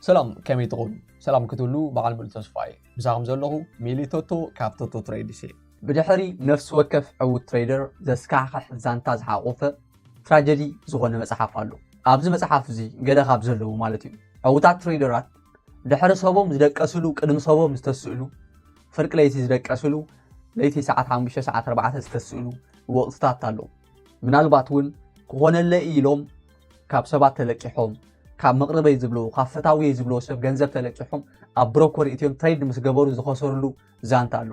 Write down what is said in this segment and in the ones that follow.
ሰላም ከመይ ትኾኑ ሰላም ክትብሉ በዓል ሙሉ ተስፋ እየ ምሳኹም ዘለኹ ሚሊ ቶቶ ካብ ቶቶ ትሬድስ እየ ብድሕሪ ነፍሲ ወከፍ ዕውት ትሬደር ዘስካሕክሕ ዛንታ ዝሓቆፈ ትራጀዲ ዝኾነ መፅሓፍ ኣሎ ኣብዚ መፅሓፍ እዚ ገለ ካብ ዘለዉ ማለት እዩ ዕውታት ትሬደራት ድሕሪ ሰቦም ዝደቀስሉ ቅድሚ ሰቦም ዝተስእሉ ፍርቂ ለይቲ ዝደቀስሉ ለይቲ ሰዓት 5 ሰዓት 4 ዝተስእሉ ወቕትታት ኣሎ ምናልባት እውን ክኾነለ ኢሎም ካብ ሰባት ተለቂሖም ካብ መቕርበይ ዝብልዎ ካብ ፈታውየይ ዝብልዎ ሰብ ገንዘብ ተለቂሖም ኣብ ብሮኮር እትዮም ትሬድ ምስ ገበሩ ዝኸሰርሉ ዛንታ ኣሎ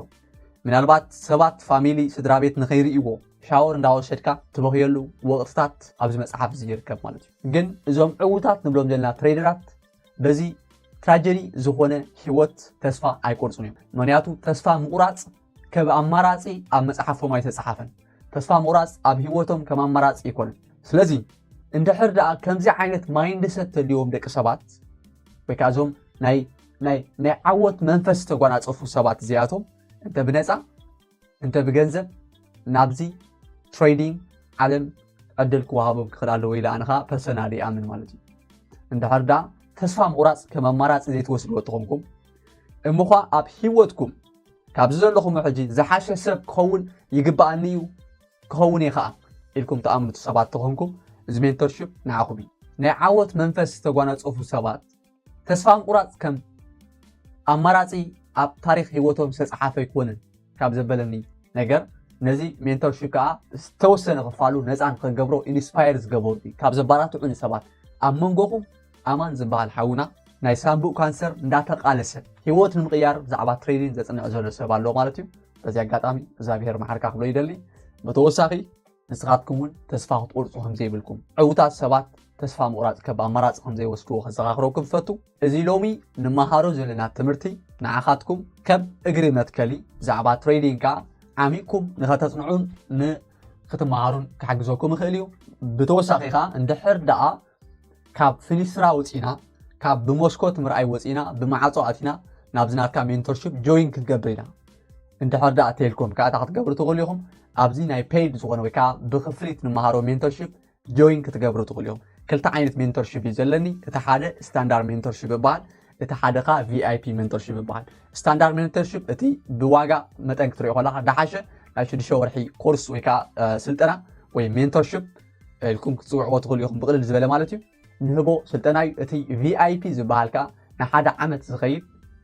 ምናልባት ሰባት ፋሚሊ ስድራ ቤት ንኸይርእይዎ ሻወር እንዳወሰድካ ትበኽየሉ ወቕትታት ኣብዚ መፅሓፍ እዚ ይርከብ ማለት እዩ ግን እዞም ዕውታት ንብሎም ዘለና ትሬደራት በዚ ትራጀዲ ዝኾነ ህይወት ተስፋ ኣይቆርፁን እዮም ምክንያቱ ተስፋ ምቑራፅ ከብ ኣማራጺ ኣብ መጽሓፎም ኣይተጸሓፈን። ተስፋ ምቑራጽ ኣብ ህይወቶም ከም ኣማራጺ ኣይኮነን። ስለዚ እንድሕር ደኣ ከምዚ ዓይነት ማይንድ ሰት ተልዎም ደቂ ሰባት ወይ ከዓ እዞም ናይ ናይ ናይ ዓወት መንፈስ ዝተጓናፀፉ ሰባት እዚኣቶም እንተ ብነፃ እንተ ብገንዘብ ናብዚ ትሬዲንግ ዓለም ዕድል ክወሃቦም ክኽእል ኣለዎ ኢለ ኣነ ከዓ ፐርሰናል ይኣምን ማለት እዩ እንድሕር ደኣ ተስፋ ምቑራፅ ከም ኣማራፂ ዘይትወስድዎ ተኾንኩም እምዃ ኣብ ሂወትኩም ካብዚ ዘለኹሞ ሕጂ ዝሓሸ ሰብ ክኸውን ይግብኣኒ እዩ ክኸውን እየ ኸኣ ኢልኩም ትኣምኑት ሰባት ተኾንኩም እዚ ሜንቶርሽፕ ንዓኹም እዩ ናይ ዓወት መንፈስ ዝተጓናጸፉ ሰባት ተስፋ ምቁራጽ ከም ኣማራጺ ኣብ ታሪክ ህይወቶም ዝተፅሓፈ ኣይኮነን ካብ ዘበለኒ ነገር ነዚ ሜንቶርሽፕ ከዓ ዝተወሰነ ክፋሉ ነፃን ከገብሮ ኢንስፓየር ዝገበሩ ካብ ዘባራትዑኒ ሰባት ኣብ መንጎኹም ኣማን ዝብሃል ሓውና ናይ ሳንቡእ ካንሰር እንዳተቃለሰ ሂወት ንምቅያር ብዛዕባ ትሬኒን ዘጽንዕ ዘሎ ሰብ ኣሎ ማለት እዩ በዚ ኣጋጣሚ እግዚኣብሄር መሓርካ ክብሎ ይደሊ ብተወሳኺ ንስኻትኩም እውን ተስፋ ክትቆርጹ ከምዘይብልኩም ዕውታት ሰባት ተስፋ ምቑራጽ ከብ ኣማራጺ ከምዘይወስድዎ ከዘኻኽረኩም ዝፈቱ እዚ ሎሚ ንመሃሮ ዘለና ትምህርቲ ንዓኻትኩም ከም እግሪ መትከሊ ብዛዕባ ትሬዲንግ ከዓ ዓሚቕኩም ንኸተጽንዑን ንክትመሃሩን ክሓግዘኩም ይኽእል እዩ ብተወሳኺ ከዓ እንድሕር ደኣ ካብ ፍኒስትራ ውጺና ካብ ብመስኮት ምርኣይ ወጺና ብማዓጾ ኣቲና ናብዚ ናትካ ሜንቶርሺፕ ጆይን ክትገብር ኢና እንድሕር ደኣ ቴልኮም ከዓ እታ ክትገብሩ ትኽእሉ ኢኹም ኣብዚ ናይ ፔይድ ዝኾነ ወይ ከዓ ብክፍሊት ንመሃሮ ሜንቶርሺፕ ጆይን ክትገብሩ ትኽእሉ እዮም ክልተ ዓይነት ሜንቶርሺፕ እዩ ዘለኒ እቲ ሓደ ስታንዳርድ ሜንቶርሺፕ ይበሃል እቲ ሓደ ከዓ ቪይፒ ሜንቶርሺፕ ይበሃል ስታንዳርድ ሜንቶርሺፕ እቲ ብዋጋ መጠን ክትሪኦ ከለካ ዳሓሸ ናይ ሽዱሽተ ወርሒ ኮርስ ወይ ከዓ ስልጠና ወይ ሜንቶርሺፕ ኢልኩም ክትፅውዕዎ ትኽእሉ ኢኹም ብቕልል ዝበለ ማለት እዩ ንህቦ ስልጠና እዩ እቲ ቪኣይፒ ዝበሃል ከዓ ንሓደ ዓመት ዝኸይድ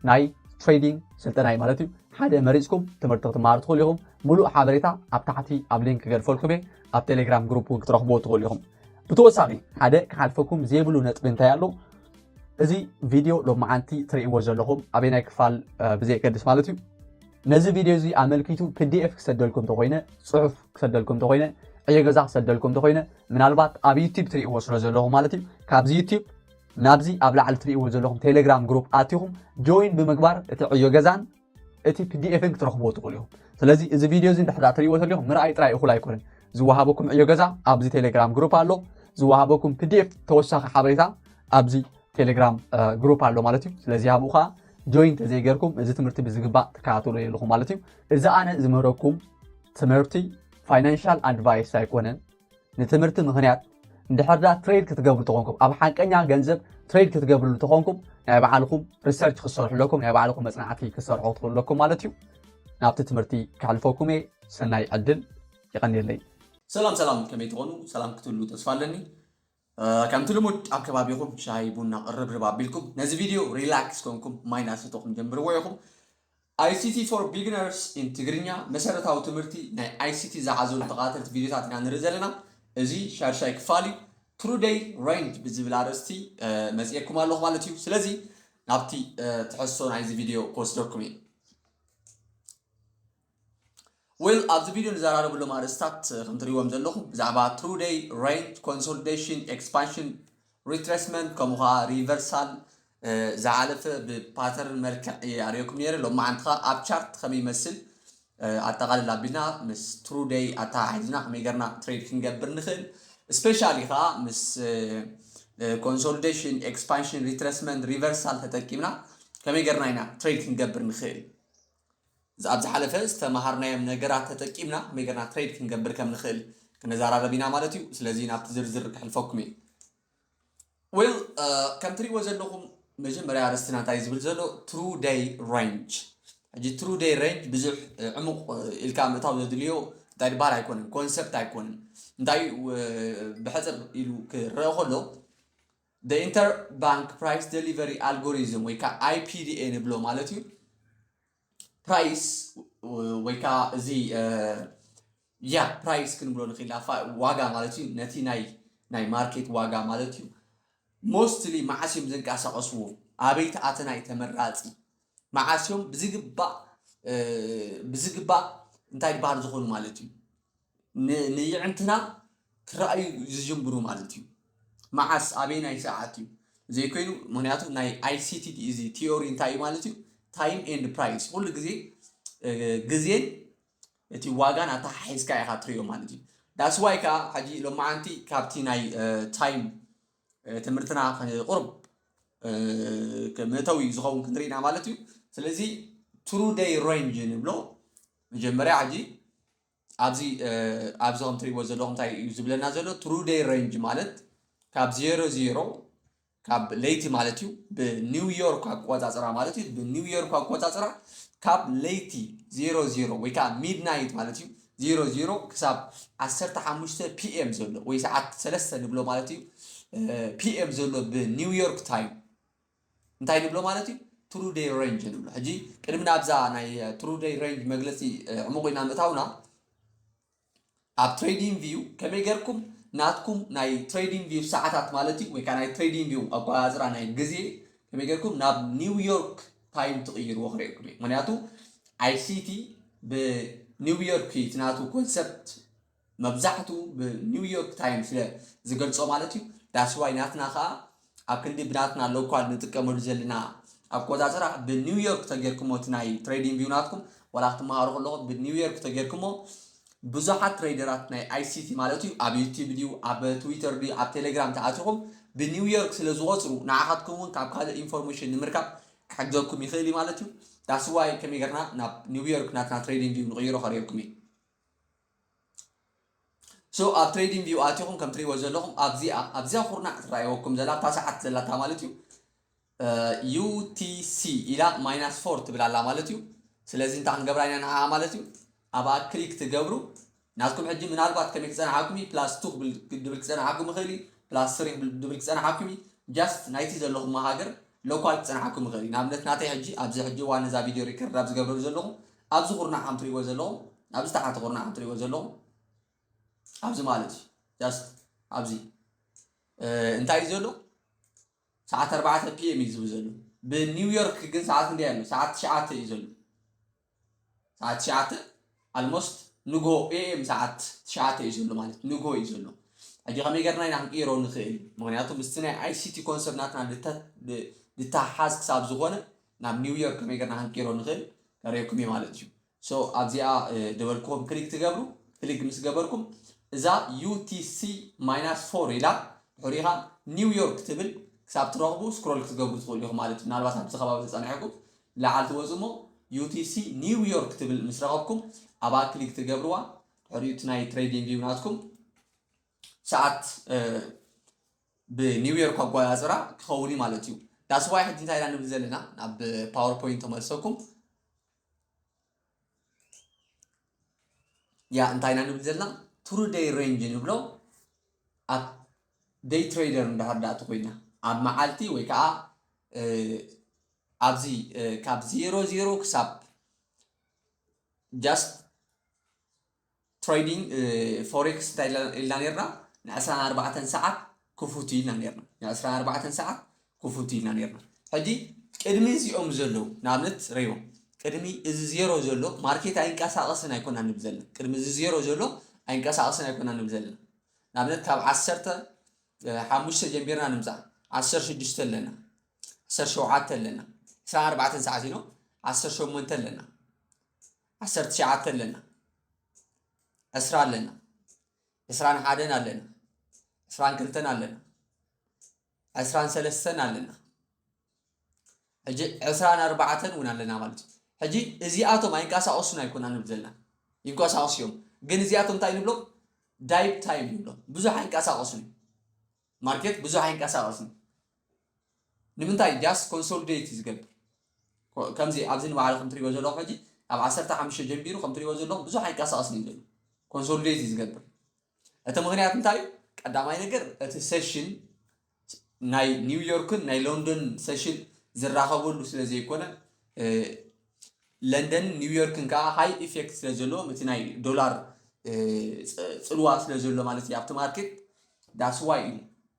ናይ ትሬዲንግ ስልጠና እዩ ማለት እዩ ሓደ መሪፅኩም ትምህርቲ ክትመሃሩ ትኽእሉ ኢኹም ሙሉእ ሓበሬታ ኣብ ታሕቲ ኣብ ሊንክ ክገድፈልኩም እየ ኣብ ቴሌግራም ግሩፕ እውን ክትረኽብዎ ትኽእሉ ኢኹም ብተወሳኺ ሓደ ክሓልፈኩም ዘይብሉ ነጥቢ እንታይ ኣሎ እዚ ቪድዮ ሎመዓንቲ ትርእይዎ ዘለኹም ኣበይ ናይ ክፋል ብዘየገድስ ማለት እዩ ነዚ ቪድዮ እዚ ኣመልኪቱ ፒዲኤፍ ክሰደልኩም እንተኾይነ ጽሑፍ ክሰደልኩም እንተኾይነ ዕዮ ገዛ ክሰደልኩም እንተኾይነ ምናልባት ኣብ ዩቲብ ትርእይዎ ስለ ዘለኹም ማለት እዩ ካብዚ ዩቲብ ናብዚ ኣብ ላዕሊ ትርእይዎ ዘለኹም ቴሌግራም ግሩፕ ኣትኹም ጆይን ብምግባር እቲ ዕዮ ገዛን እቲ ፒዲኤፍን ክትረኽብዎ ትኽእሉ ኢኹም ስለዚ እዚ ቪድዮ እዚ እንድሕዳ ትርእይዎ ተሊኹም ምርኣይ ጥራይ እኹል ኣይኮነን ዝወሃበኩም ዕዮ ገዛ ኣብዚ ቴሌግራም ግሩፕ ኣሎ ዝወሃበኩም ፒዲኤፍ ተወሳኺ ሓበሬታ ኣብዚ ቴሌግራም ግሩፕ ኣሎ ማለት እዩ ስለዚ ኣብኡ ከዓ ጆይን ተዘይገርኩም እዚ ትምህርቲ ብዝግባእ ትከታተሉ የለኹም ማለት እዩ። እዚ ኣነ ዝምህረኩም ትምህርቲ ፋይናንሻል ኣድቫይስ ኣይኮነን። ንትምህርቲ ምክንያት እንድሕር ዳ ትሬድ ክትገብሩ ተኾንኩም ኣብ ሓቀኛ ገንዘብ ትሬድ ክትገብርሉ ተኾንኩም ናይ ባዕልኹም ሪሰርች ክሰርሑ ኣለኩም ናይ ባዕልኹም መፅናዕቲ ክሰርሑ ክትኽእሉ ኣለኩም ማለት እዩ። ናብቲ ትምህርቲ ከሕልፈኩም እየ። ሰናይ ዕድል። የቐንየለይ። ሰላም ሰላም ከመይ ትኾኑ ሰላም ክትህሉ ተስፋ ኣለኒ። ከምቲ ልሙድ ኣብ ከባቢኹም ሻሂ ቡና ቅርብርብ ኣቢልኩም ነዚ ቪድዮ ሪላክስ ኮንኩም ማይ እናሰተኹም ጀምርዎ ኢኹም። ICT for Beginners in ትግርኛ መሰረታዊ ትምህርቲ ናይ ICT ዝሓዘሉ ተኸታተልቲ ቪድዮታት ኢና ንርኢ ዘለና። እዚ ሻድሻይ ክፋል እዩ። True Day Range ብዝብል ኣርእስቲ መጺኤኩም ኣለኹ ማለት እዩ። ስለዚ ናብቲ ትሕዝቶ ናይዚ ቪድዮ ክወስደኩም እዩ። ዌል ኣብዚ ቪድዮ ንዘራረበሎም ኣርእስታት ከም ትሪእዎም ዘለኹም ብዛዕባ ትሩ ደይ ሬንጅ ኮንሶሊዴሽን ኤክስፓንሽን ሪትሬስመንት ከምኡ ከዓ ሪቨርሳል ዝሓለፈ ብፓተርን መልክዕ እየ ኣርእየኩም ነይረ ሎማዓንቲ ከዓ ኣብ ቻርት ከመይ ይመስል ኣጠቃልል ኣቢልና ምስ ትሩ ደይ ኣተሓሒዝና ከመይ ገርና ትሬድ ክንገብር ንኽእል ስፔሻሊ ከዓ ምስ ኮንሶሊዴሽን ኤክስፓንሽን ሪትሬስመንት ሪቨርሳል ተጠቂምና ከመይ ገርና ኢና ትሬድ ክንገብር ንኽእል ኣብ ዝሓለፈ ዝተመሃርናዮም ነገራት ተጠቂምና ከመይ ገርና ትሬድ ክንገብር ከም ንኽእል ክንዛራረብ ኢና ማለት እዩ ስለዚ ናብቲ ዝርዝር ክሕልፈኩም እየ ዌል ከም ትሪእዎ ዘለኹም መጀመርያ ኣርእስትና እንታይ ዝብል ዘሎ ትሩ ደይ ሬንጅ ሕጂ ትሩ ደይ ሬንጅ ብዙሕ ዕሙቕ ኢልካ ምእታው ዘድልዮ እንታይ ድበሃል ኣይኮነን ኮንሰፕት ኣይኮነን እንታይ ብሕፅር ኢሉ ክረአ ከሎ The Interbank Price Delivery Algorithm ወይ ከዓ IPDA ንብሎ ማለት እዩ ፕራይስ ወይ ከዓ እዚ ያ ፕራይስ ክንብሎ ንኽእል ዋጋ ማለት እዩ ነቲ ናይ ናይ ማርኬት ዋጋ ማለት እዩ ሞስትሊ መዓስ እዮም ዝንቀሳቐስዎ ኣበይ ተኣተና እዩ ተመራፂ መዓስ እዮም ብዝግባእ ብዝግባእ እንታይ ድበሃል ዝኾኑ ማለት እዩ ንየዕንትና ክረኣዩ ዝጅምሩ ማለት እዩ። መዓስ ኣበየናይ ሰዓት እዩ ዘይኮይኑ ምክንያቱ ናይ ኣይሲቲ እዚ ቲዮሪ እንታይ እዩ ማለት እዩ ታይም ኤንድ ፕራይስ ኩሉ ግዜ ግዜን እቲ ዋጋን ኣተሓሒዝካ ኢኻ ትሪኦ ማለት እዩ ዳስዋይ ከዓ ሕጂ ሎማዓንቲ ካብቲ ናይ ታይም ትምህርትና ቁርብ መእተዊ ዝኸውን ክንሪኢና ማለት እዩ ስለዚ ትሩ ደይ ሬንጅ ንብሎ መጀመርያ ሕጂ ኣብዚ ኣብዚ ከም ትሪእዎ ዘለኹም እንታይ እዩ ዝብለና ዘሎ ትሩ ደይ ረንጅ ማለት ካብ ዜሮ ዜሮ ካብ ለይቲ ማለት እዩ ብኒው ዮርክ ኣቆፃፅራ ማለት እዩ ብኒው ዮርክ ኣቆፃፅራ ካብ ለይቲ ዜሮ ዜሮ ወይ ከዓ ሚድናይት ማለት እዩ ዜሮ ዜሮ ክሳብ ዓሰርተ ሓሙሽተ ፒኤም ዘሎ ወይ ሰዓት ሰለስተ ንብሎ ማለት እዩ ፒኤም ዘሎ ብኒው ዮርክ ታይም እንታይ ንብሎ ማለት እዩ? ትሩ ደይ ሬንጅ ንብሎ። ሕጂ ቅድሚ ናብዛ ናይ ትሩ ደይ ሬንጅ መግለጺ ዕሙቕ ኢና ምእታውና ኣብ ትሬዲንግ ቪው ከመይ ጌርኩም ናትኩም ናይ ትሬዲንግ ቪው ሰዓታት ማለት እዩ ወይ ከዓ ናይ ትሬዲንግ ቪው ኣቆፃፅራ ናይ ግዜ ከመይ ጌርኩም ናብ ኒውዮርክ ታይም ትቕይርዎ ክርእየኩም እዩ ምክንያቱ ኣይሲቲ ብኒውዮርክ እዩ እቲ ናቱ ኮንሰፕት መብዛሕቱ ብ ኒው ዮርክ ታይም ስለ ዝገልጾ ማለት እዩ ዳትስ ዋይ ናትና ከኣ ኣብ ክንዲ ብናትና ሎኳል ንጥቀመሉ ዘለና ኣቆጻጽራ ብ ኒው ዮርክ ተጌርክሞ እቲ ናይ ትሬዲንግ ቪው ናትኩም ዋላ ክትመሃሩ ከለኹም ብ ኒው ዮርክ ተጌርክሞ ብዙሓት ትሬደራት ናይ ኣይሲቲ ማለት እዩ ኣብ ዩቲብ ድዩ ኣብ ትዊተር ድዩ ኣብ ቴሌግራም ተኣቲኹም ብ ኒው ዮርክ ስለ ዝቆጽሩ ንዓኻትኩም እውን ካብ ካልእ ኢንፎርሜሽን ንምርካብ ክሕግዘኩም ይኽእል እዩ ማለት እዩ ዳትስ ዋይ ከመይ ጌርና ናብ ኒው ዮርክ ናትና ትሬዲንግ ቪው ንቕይሮ ከርእየኩም እየ So ኣብ ትሬዲንግ ቪው ኣቲኹም ከም ትሪእዎ ዘለኹም ኣብዚኣ ኣብዚኣ ኩርናዕ ትረኣየወኩም ዘላ ኣብታ ሰዓት ዘላታ ማለት እዩ ዩቲሲ ኢላ ማይናስ ፎር ትብል ኣላ ማለት እዩ ስለዚ እንታይ ክንገብራ ኢና ንዓኣ ማለት እዩ ኣብኣ ክሊክ ትገብሩ ናትኩም ሕጂ ምናልባት ከመይ ክፀናሓኩም እዩ ፕላስ ቱ ክብል ድብል ክፀናሓኩም ይኽእል እዩ ፕላስ ስሪ ድብል ክፀናሓኩም እዩ ጃስት ናይቲ ዘለኹም ሃገር ሎካል ክፀናሓኩም ይኽእል እዩ ንኣብነት ናተይ ሕጂ ኣብዚ ሕጂ ዋን እዛ ቪድዮ ሪከርድ ኣብ ዝገብረሉ ዘለኹ ኣብዚ ኩርናዕ ከም ትሪእዎ ዘለኹም ኣብዚ ታሕቲ ኩርናዕ ከም ትሪእዎ ዘለኹም ኣብዚ ማለት እዩ ጃስት ኣብዚ እንታይ እዩ ዘሎ ሰዓት ኣርባዕተ ፒኤም እዩ ዝብል ዘሎ ብኒውዮርክ ግን ሰዓት ክንደይ ኣሎ ሰዓት ትሽዓተ እዩ ዘሎ ሰዓት ትሽዓተ ኣልሞስት ንጎ ኤኤም ሰዓት ትሽዓተ እዩ ዘሎ ማለት ንጎ እዩ ዘሎ ሕጂ ከመይ ገርና ኢና ክንቅይሮ ንኽእል ምክንያቱ ምስቲ ናይ ኣይሲቲ ኮንሰርናትና ዝተሓዝ ክሳብ ዝኾነ ናብ ኒው ዮርክ ከመይ ገርና ክንቅይሮ ንኽእል ከርእየኩም እየ ማለት እዩ ሶ ኣብዚኣ ዝበልክዎም ክሊክ ትገብሩ ክሊክ ምስ ገበርኩም እዛ ዩቲሲ ማይናስ ፎር ኢላ ድሕሪ ኢኻ ኒው ዮርክ ትብል ክሳብ ትረኽቡ ስክሮል ክትገብሩ ትኽእሉ ኢኹም ማለት እዩ ምናልባት ኣብዚ ከባቢ ተፀኒሐኩም ላዓል ትወፁ እሞ ዩቲሲ ኒው ዮርክ ትብል ምስ ረኸብኩም ኣብኣ ክሊክ ትገብርዋ ድሕሪኡ እቲ ናይ ትሬዲንግ ቪው ናትኩም ሰዓት ብ new year እኮ ኣቆጻጽራ ክከውን እዩ ማለት እዩ that's why ሕጂ እንታይ ኢና ንብል ዘለና ናብ power point ተመልሰኩም ያ እንታይ ኢና ንብል ዘለና ትሩ ደይ ሬንጅ ንብሎ ኣብ ደይ ትሬደር እንድሕር ዳኣ ተኮይና ኣብ መዓልቲ ወይ ከዓ ኣብዚ ካብ ዜሮ ዜሮ ክሳብ ጃስት ትሬዲንግ ፎሬክስ እንታይ ኢልና ነርና ንዕስራን ኣርባዕተን ሰዓት ክፉት ኢልና ነርና ንዕስራን ኣርባዕተን ሰዓት ክፉት ኢልና ነርና ሕጂ ቅድሚ እዚኦም ዘለዉ ንኣብነት ረይዎም ቅድሚ እዚ ዜሮ ዘሎ ማርኬት ኣይንቀሳቐስን ኣይኮና ንብ ዘለና ቅድሚ እዚ ዜሮ ዘሎ ኣይንቀሳቐስን ኣይኮና ንብ ዘለና ንኣብነት ካብ ዓሰርተ ሓሙሽተ ጀንቢርና ንምፃእ ዓሰርተ ሽዱሽተ ኣለና ዓሰርተ ሸውዓተ ኣለና ዕስራን ኣርባዕተን ሰዓት ኢኖ ዓሰርተ ሸሞንተ ኣለና ዓሰርተ ትሽዓተ ኣለና ዕስራ ኣለና ዕስራን ሓደን ኣለና ዕስራን ክልተን ኣለና ዕስራን ሰለስተን ኣለና ሕጂ ዕስራን ኣርባዕተን እውን ኣለና ማለት እዩ ሕጂ እዚኣቶም ኣይንቀሳቀሱን ኣይኮና ንብል ዘለና ይንቀሳቀሱ እዮም ግን እዚኣቶም እንታይ ንብሎም ዳይብ ታይም ንብሎም ብዙሕ ኣይንቀሳቀሱን እዩ ማርኬት ብዙሕ ኣይንቀሳቀስን ንምንታይ ጃስት ኮንሶልዴት እዩ ዝገብር ከምዚ ኣብዚ ንባዕሉ ከም ትሪእዎ ዘለኹም ሕጂ ኣብ ዓሰርተ ሓሙሽተ ጀንቢሩ ከም ትሪእዎ ዘለኹም ብዙሕ ኣይንቀሳቀስን እዩ ዘሎ ኮንሶልዴት እዩ ዝገብር እቲ ምክንያት እንታይ እዩ ቀዳማይ ነገር እቲ ሰሽን ናይ ኒውዮርክን ናይ ሎንዶን ሰሽን ዝራኸበሉ ስለ ዘይኮነ ለንደንን ኒውዮርክን ከኣ ሃይ ኢፌክት ስለ ዘለዎም እቲ ናይ ዶላር ጽልዋ ስለ ዘሎ ማለት እዩ ኣብቲ ማርኬት ዳትስ ዋይ እዩ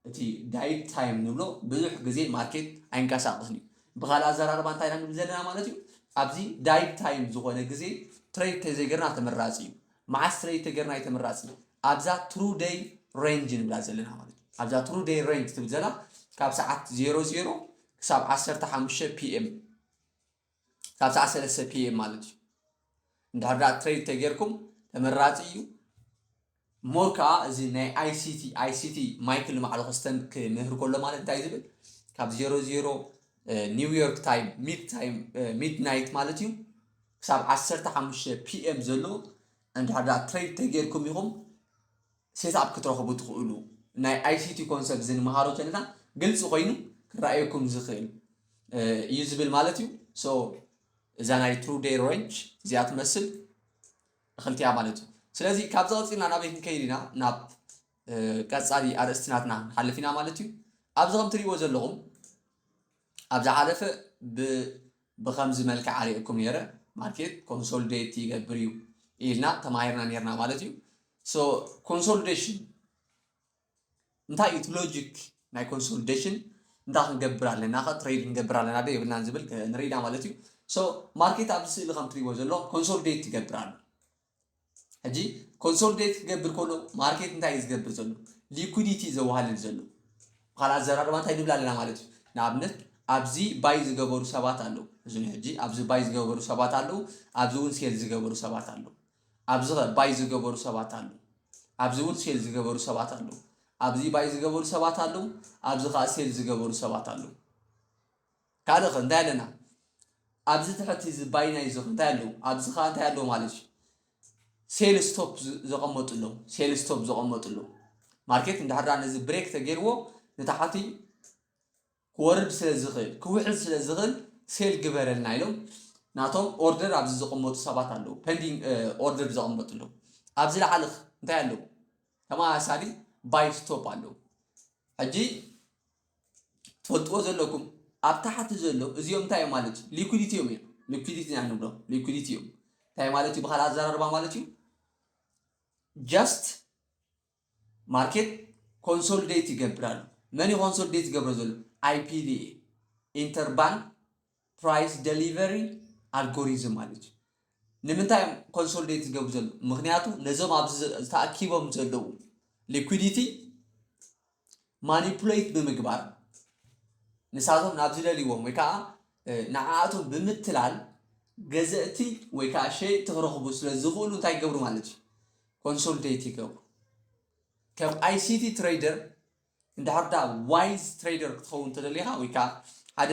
እቲ ዳይት ታይም ንብሎ ብዙሕ ግዜ ማርኬት ኣይንቀሳቐስን እዩ ብካልእ ኣዘራርባ እንታይ ኢና ንብል ዘለና ማለት እዩ ኣብዚ ዳይት ታይም ዝኾነ ግዜ ትሬድ ተዘይገርና ተመራጺ እዩ መዓስ ትሬድ ተገርና እዩ ተመራጺ ኣብዛ ትሩ ደይ ሬንጅ ንብላ ዘለና ማለት እዩ ኣብዛ ትሩ ደይ ሬንጅ ትብል ዘላ ካብ ሰዓት 00 ክሳብ 15 ፒኤም ክሳብ ሰዓት ሰለስተ PM ማለት እዩ እንድሕር ደኣ ትሬድ ተጌርኩም ተመራጺ እዩ ሞር ከዓ እዚ ናይ ICT ICT ማይክል ንባዕሉ ክስተም ክምህር ከሎ ማለት እንታይ ዝብል ካብ ዜሮ ዜሮ ኒውዮርክ ታይም ሚድ ታይም ሚድ ናይት ማለት እዩ ክሳብ ዓሰርተ ሓሙሽተ ፒኤም ዘሎ እንድሕር ደኣ ትሬድ ተጌርኩም ኢኹም ሴትኣፕ ክትረኽቡ ትኽእሉ። ናይ ኣይሲቲ ኮንሰፕት እዚ ንመሃሮ ተንታ ግልፂ ኮይኑ ክረኣየኩም ዝኽእል እዩ ዝብል ማለት እዩ። ሶ እዛ ናይ ትሩ ዴይ ሬንጅ እዚኣ ትመስል እኽልቲያ ማለት እዩ። ስለዚ ካብዚ ቀፂልና ናበይ ክንከይድ ኢና ናብ ቀፃሊ ኣርእስቲ ናትና ክንሓልፍ ኢና ማለት እዩ። ኣብዚ ከም ትሪእዎ ዘለኹም ኣብ ዝሓለፈ ብ ብኸምዚ መልክዕ ኣሪኤኩም ኔረ ማርኬት ኮንሶልዴት ይገብር እዩ ኢልና ተማሂርና ኔርና ማለት እዩ ሶ ኮንሶልዴሽን እንታይ እዩ እቲ ሎጂክ ናይ ኮንሶልዴሽን እንታይ ክንገብር ኣለና ከ ትሬድ ክንገብር ኣለና ዶ የብልናን ዝብል ንርኢና ማለት እዩ ሶ ማርኬት ኣብዚ ስእሊ ከም ትሪእዎ ዘለኹም ኮንሶልዴት ይገብር ኣሎ ሕጂ ኮንሶሊዴት ክገብር ከሎ ማርኬት እንታይ እዩ ዝገብር ዘሎ ሊኩዲቲ ዘዋሃልል ዘሎ ብካልእ ኣዘራርባ እንታይ ንብል ኣለና ማለት እዩ ንኣብነት ኣብዚ ባይ ዝገበሩ ሰባት ኣለዉ እዚ ሕጂ ኣብዚ ባይ ዝገበሩ ሰባት ኣለዉ ኣብዚ እውን ሴል ዝገበሩ ሰባት ኣለዉ ኣብዚ ኸ ባይ ዝገበሩ ሰባት ኣለዉ ኣብዚ እውን ሴል ዝገበሩ ሰባት ኣለዉ ኣብዚ ባይ ዝገበሩ ሰባት ኣለዉ ኣብዚ ከዓ ሴል ዝገበሩ ሰባት ኣለዉ ካልእ ከ እንታይ ኣለና ኣብዚ ትሕቲ እዚ ባይናይዝ ዘሎ እንታይ ኣለዉ ኣብዚ ከኣ እንታይ ኣለዉ ማለት እዩ ሴል ስቶፕ ዘቐመጡ ኣለዉ ሴል ስቶፕ ዘቐመጡ ኣለዉ ማርኬት እንድሕር ነዚ ብሬክ ተገይርዎ ንታሕቲ ክወርድ ስለ ዝኽእል ክውሕድ ስለ ዝኽእል ሴል ግበረልና ኢሎም ናቶም ኦርደር ኣብዚ ዘቐመጡ ሰባት ኣለዉ ፐንዲንግ ኦርደር ዘቐመጡ ኣለዉ ኣብዚ ላዕሊ እንታይ ኣለዉ ተመሳሳሊ ባይ ስቶፕ ኣለዉ ሕጂ ትፈልጥዎ ዘለኩም ኣብ ታሕቲ ዘሎ እዚኦም እንታይ እዮም ማለት እዩ ሊኩዲቲ እዮም እዮም ሊኩዲቲ ኢና ንብሎ ሊኩዲቲ እዮም እንታይ ማለት እዩ ብካልእ ኣዘራርባ ማለት እዩ ጃስት ማርኬት ኮንሶሊዴት ይገብር ኣሎ መን ኮንሶሊዴት ይገብሮ ዘሎ ኣይፒቪኤ ኢንተርባንክ ፕራይስ ደሊቨሪ ኣልጎሪዝም ማለት እዩ። ንምንታይ እዮም ኮንሶልዴት ዝገብሩ ዘለዉ? ምክንያቱ ነዞም ኣብዚ ተኣኪቦም ዘለዉ ሊኩዲቲ ማኒፑሌት ብምግባር ንሳቶም ናብ ዝደልይዎም ወይ ከዓ ንዓኣቶም ብምትላል ገዘእቲ ወይ ከዓ ሸየጥቲ ክረኽቡ ስለ ዝኽእሉ እንታይ ይገብሩ ማለት እዩ ኮንሶልዴት ይገብሩ ከም ኣይሲቲ ትሬደር እንድሕር ደኣ ዋይዝ ትሬደር ክትኸውን ተደሊኻ ወይ ከኣ ሓደ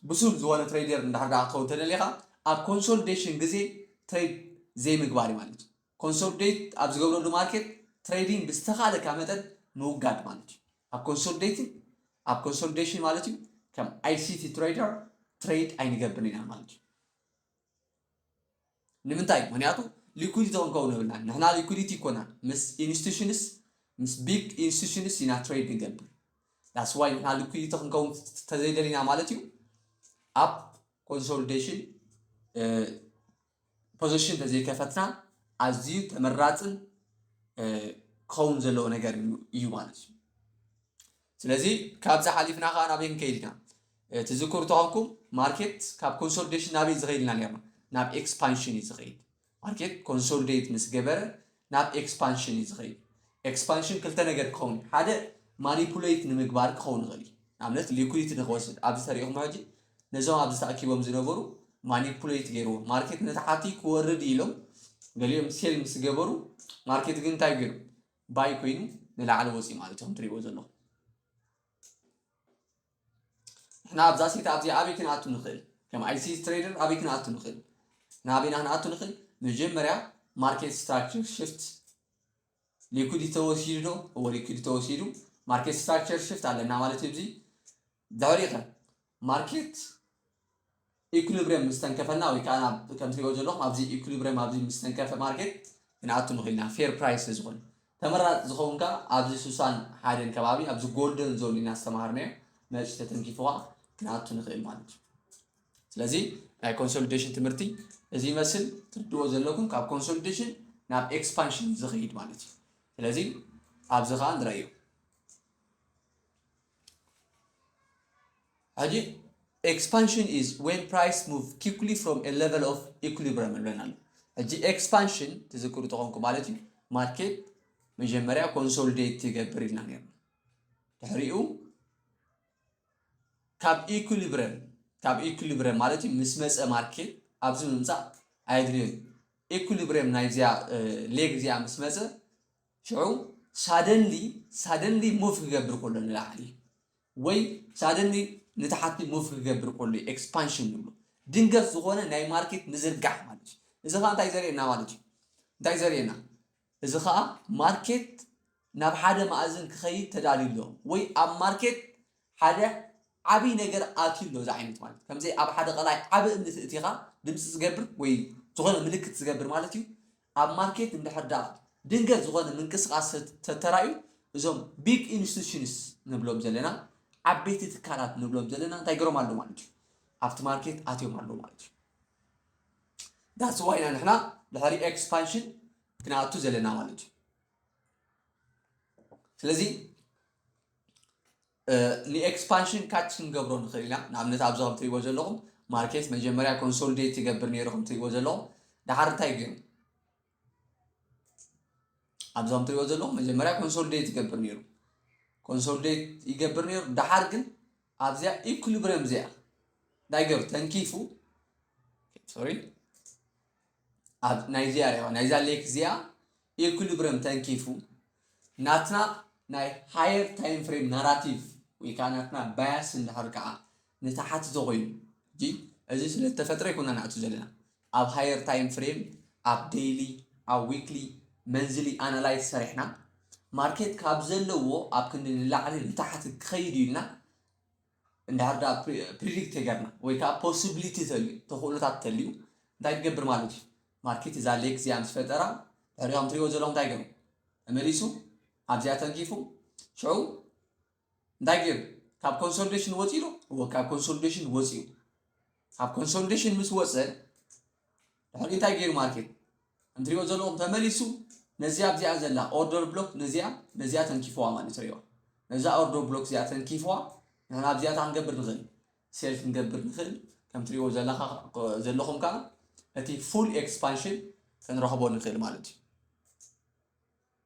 ብሱል ዝኾነ ትሬደር እንድሕር ደኣ ክትኸውን ተደሊኻ ኣብ ኮንሶሊዴሽን ግዜ ትሬድ ዘይምግባር እዩ ማለት እዩ። ኮንሶሊዴት ኣብ ዝገብረሉ ማርኬት ትሬዲንግ ብዝተኻለካ መጠን ምውጋድ ማለት እዩ። ኣብ ኮንሶሊዴት ኣብ ኮንሶሊዴሽን ማለት እዩ ከም ኣይሲቲ ትሬደር ትሬድ ኣይንገብርን ኢና ማለት እዩ። ንምንታይ ምክንያቱ ሊኩድ ዞን ከውን የብልናን ንሕና ሊኩዲቲ ይኮናን ምስ ኢንስቲቱሽንስ ምስ ቢግ ኢንስቲቱሽንስ ኢና ትሬድ ንገብር ዳስ ዋይ ንሕና ሊኩዲቲ ክንከውን ተዘይደሊና ማለት እዩ ኣብ ኮንሶሊዴሽን ፖዚሽን ተዘይከፈትና ኣዝዩ ተመራፅን ክኸውን ዘለዎ ነገር እዩ ማለት እዩ ስለዚ ካብዚ ሓሊፍና ከኣ ናበይ ክንከይድ ኢና? ትዝክሩ ተኾንኩም ማርኬት ካብ ኮንሶሊደሽን ናበይ ዝኸይድ ኢልና ኔርና? ናብ ኤክስፓንሽን እዩ ዝኸይድ። ማርኬት ኮንሶሊደት ምስ ገበረ ናብ ኤክስፓንሽን እዩ ዝኸይድ። ኤክስፓንሽን ክልተ ነገር ክኸውን እዩ። ሓደ ማኒፑሌት ንምግባር ክኸውን ይኽእል እዩ። ንኣብነት ሊኩዲቲ ንክወስድ ኣብዚ ተሪኢኹሞ ሕጂ ነዞም ኣብዚ ተኣኪቦም ዝነበሩ ማኒፑሌት ገይርዎ ማርኬት ነቲ ሓቲ ክወርድ ኢሎም ገሊኦም ሴል ምስ ገበሩ ማርኬት ግን እንታይ ገይሩ ባይ ኮይኑ ንላዕሊ ወፂኡ ማለት እዩ ትሪእዎ ዘለኹም ንሕና ኣብዛ ሴት ኣብዚ ኣበይ ክንኣቱ ንኽእል ከም ኣይሲ ትሬደር ኣበይ ክንኣቱ ንኽእል ናበይና ክንኣቱ ንኽእል መጀመርያ ማርኬት ስትራክቸር ሽፍት ሊኩድ ተወሲዱ ዶ እዎ ሊኩድ ተወሲዱ ማርኬት ስትራክቸር ሽፍት ኣለና ማለት እዩ እዚ ዳሪኸ ማርኬት ኢኩሊብርየም ምስ ተንከፈና ወይ ከኣ ከም ትሪእዎ ዘለኹም ኣብዚ ኢኩሊብርየም ኣብዚ ምስ ተንከፈ ማርኬት ክንኣቱ ንኽእል ኢና ፌር ፕራይስ ስለ ዝኾነ ተመራጺ ዝኸውን ከኣ ኣብዚ ሱሳን ሓደን ከባቢ ኣብዚ ጎልደን ዞን ኢና ዝተማሃርናዮ መጺኡ ተተንኪፉ ከኣ ክንኣቱ ንኽእል ማለት እዩ ስለዚ ናይ ኮንሶሊዴሽን ትምህርቲ እዚ ይመስል ትርድዎ ዘለኩም ካብ ኮንሶሊዴሽን ናብ ኤክስፓንሽን ዝኸይድ ማለት እዩ ስለዚ ኣብዚ ከኣ ንረእዮ ሕጂ ኤክስፓንሽን ኢዝ ዌን ፕራይስ ሙቭ ኪክሊ ፍሮም ኤ ሌቨል ኦፍ ኢኩሊብረም ኣሎ ኣሎ ሕጂ ኤክስፓንሽን ትዝክሩ ተኾንኩ ማለት እዩ ማርኬት መጀመርያ ኮንሶልዴት ትገብር ኢልና ነርና ድሕሪኡ ካብ ኢኩሊብረም ካብ ኢኩሊብረም ማለት እዩ ምስ መፀ ማርኬት ኣብዚ ምምፃእ ኣየድልዮን ኢኩሊብረም ናይዚኣ ሌግ እዚኣ ምስ መፀ ሽዑ ሳደንሊ ሳደንሊ ሙቭ ክገብር ከሎ ንላዕሊ ወይ ሳደንሊ ንታሓቲ ሙቭ ክገብር ከሎ እዩ ኤክስፓንሽን ንብሎ ድንገት ዝኾነ ናይ ማርኬት ምዝርጋሕ ማለት እዩ እዚ ከዓ እንታይ ዘርእየና ማለት እዩ እንታይ ዘርእየና እዚ ከዓ ማርኬት ናብ ሓደ ማእዝን ክኸይድ ተዳልዩ ኣሎ ወይ ኣብ ማርኬት ሓደ ዓብይ ነገር ኣትዩ ኣሎ እዚ ዓይነት ማለት እዩ ከምዘይ ኣብ ሓደ ቀላይ ዓብ እምኒ ትእቲኻ ድምፂ ዝገብር ወይ ዝኾነ ምልክት ዝገብር ማለት እዩ ኣብ ማርኬት እንድሕር ደኣ ድንገት ዝኾነ ምንቅስቓስ ተተራእዩ እዞም ቢግ ኢንስቲቱሽንስ ንብሎም ዘለና ዓበይቲ ትካላት ንብሎም ዘለና እንታይ ገሮም ኣለዉ ማለት እዩ ኣብቲ ማርኬት ኣትዮም ኣለዉ ማለት እዩ ዳስዋ ኢና ንሕና ድሕሪ ኤክስፓንሽን ክንኣቱ ዘለና ማለት እዩ ስለዚ ንኤክስፓንሽን ካች ክንገብሮ ንኽእል ኢና ንኣብነት ኣብዚ ከም ትሪእዎ ዘለኹም ማርኬት መጀመርያ ኮንሶሊዴት ይገብር ነይሩ ከም ትሪእዎ ዘለኹም ድሓር እንታይ ገይሩ ኣብዚ ከም ትሪእዎ ዘለኹም መጀመርያ ኮንሶሊዴት ይገብር ነይሩ ኮንሶሊዴት ይገብር ነይሩ ድሓር ግን ኣብዚኣ ኢኩሊብሪየም እዚኣ እንታይ ገይሩ ተንኪፉ ሶሪ ኣብ ናይዚኣ ሪዋ ናይዛ ሌክ እዚኣ ኢኩሊብረም ተንኪፉ ናትና ናይ ሃየር ታይም ፍሬም ናራቲቭ ወይ ከዓ ናትና ባያስ እንድሕር ከዓ ንተሓት ተኾይኑ እንጂ እዚ ስለ ዝተፈጥረ ይኮና ንኣቱ ዘለና ኣብ ሃየር ታይም ፍሬም ኣብ ዴይሊ ኣብ ዊክሊ መንዝሊ ኣናላይዝ ሰሪሕና ማርኬት ካብ ዘለዎ ኣብ ክንዲ ንላዕሊ ንታሕቲ ክኸይድ ኢልና እንድሕር ድኣ ፕሪዲክት ተይገርና ወይ ከኣ ፖስብሊቲ ተልዩ ተኽእሎታት ተልዩ እንታይ ክገብር ማለት እዩ ማርኬት እዛ ሌክ እዚኣ ምስ ፈጠራ ድሕሪ ከም ትሪእዎ ዘለኹም እንታይ ገሩ ተመሊሱ ኣብዚኣ ተንኪፉ ሽዑ እንታይ ገሩ ካብ ኮንሶሊዴሽን ወፂኡ ዶ እወ ካብ ኮንሶሊዴሽን ወፂኡ ካብ ኮንሶሊዴሽን ምስ ወፀ ድሕሪኡ እንታይ ገይሩ ማርኬት እንትሪኦ ዘለኹም ተመሊሱ ነዚኣ ኣብዚኣ ዘላ ኦርደር ብሎክ ነዚኣ ነዚኣ ተንኪፍዋ ማለት እዩ ነዛ ኦርደር ብሎክ እዚኣ ተንኪፍዋ ንሕና ኣብዚኣ እንታይ ክንገብር ንኽእል ሴል ክንገብር ንኽእል ከም ትሪኦ ዘለኹም ከዓ እቲ ፉል ኤክስፓንሽን ክንረኽቦ ንኽእል ማለት እዩ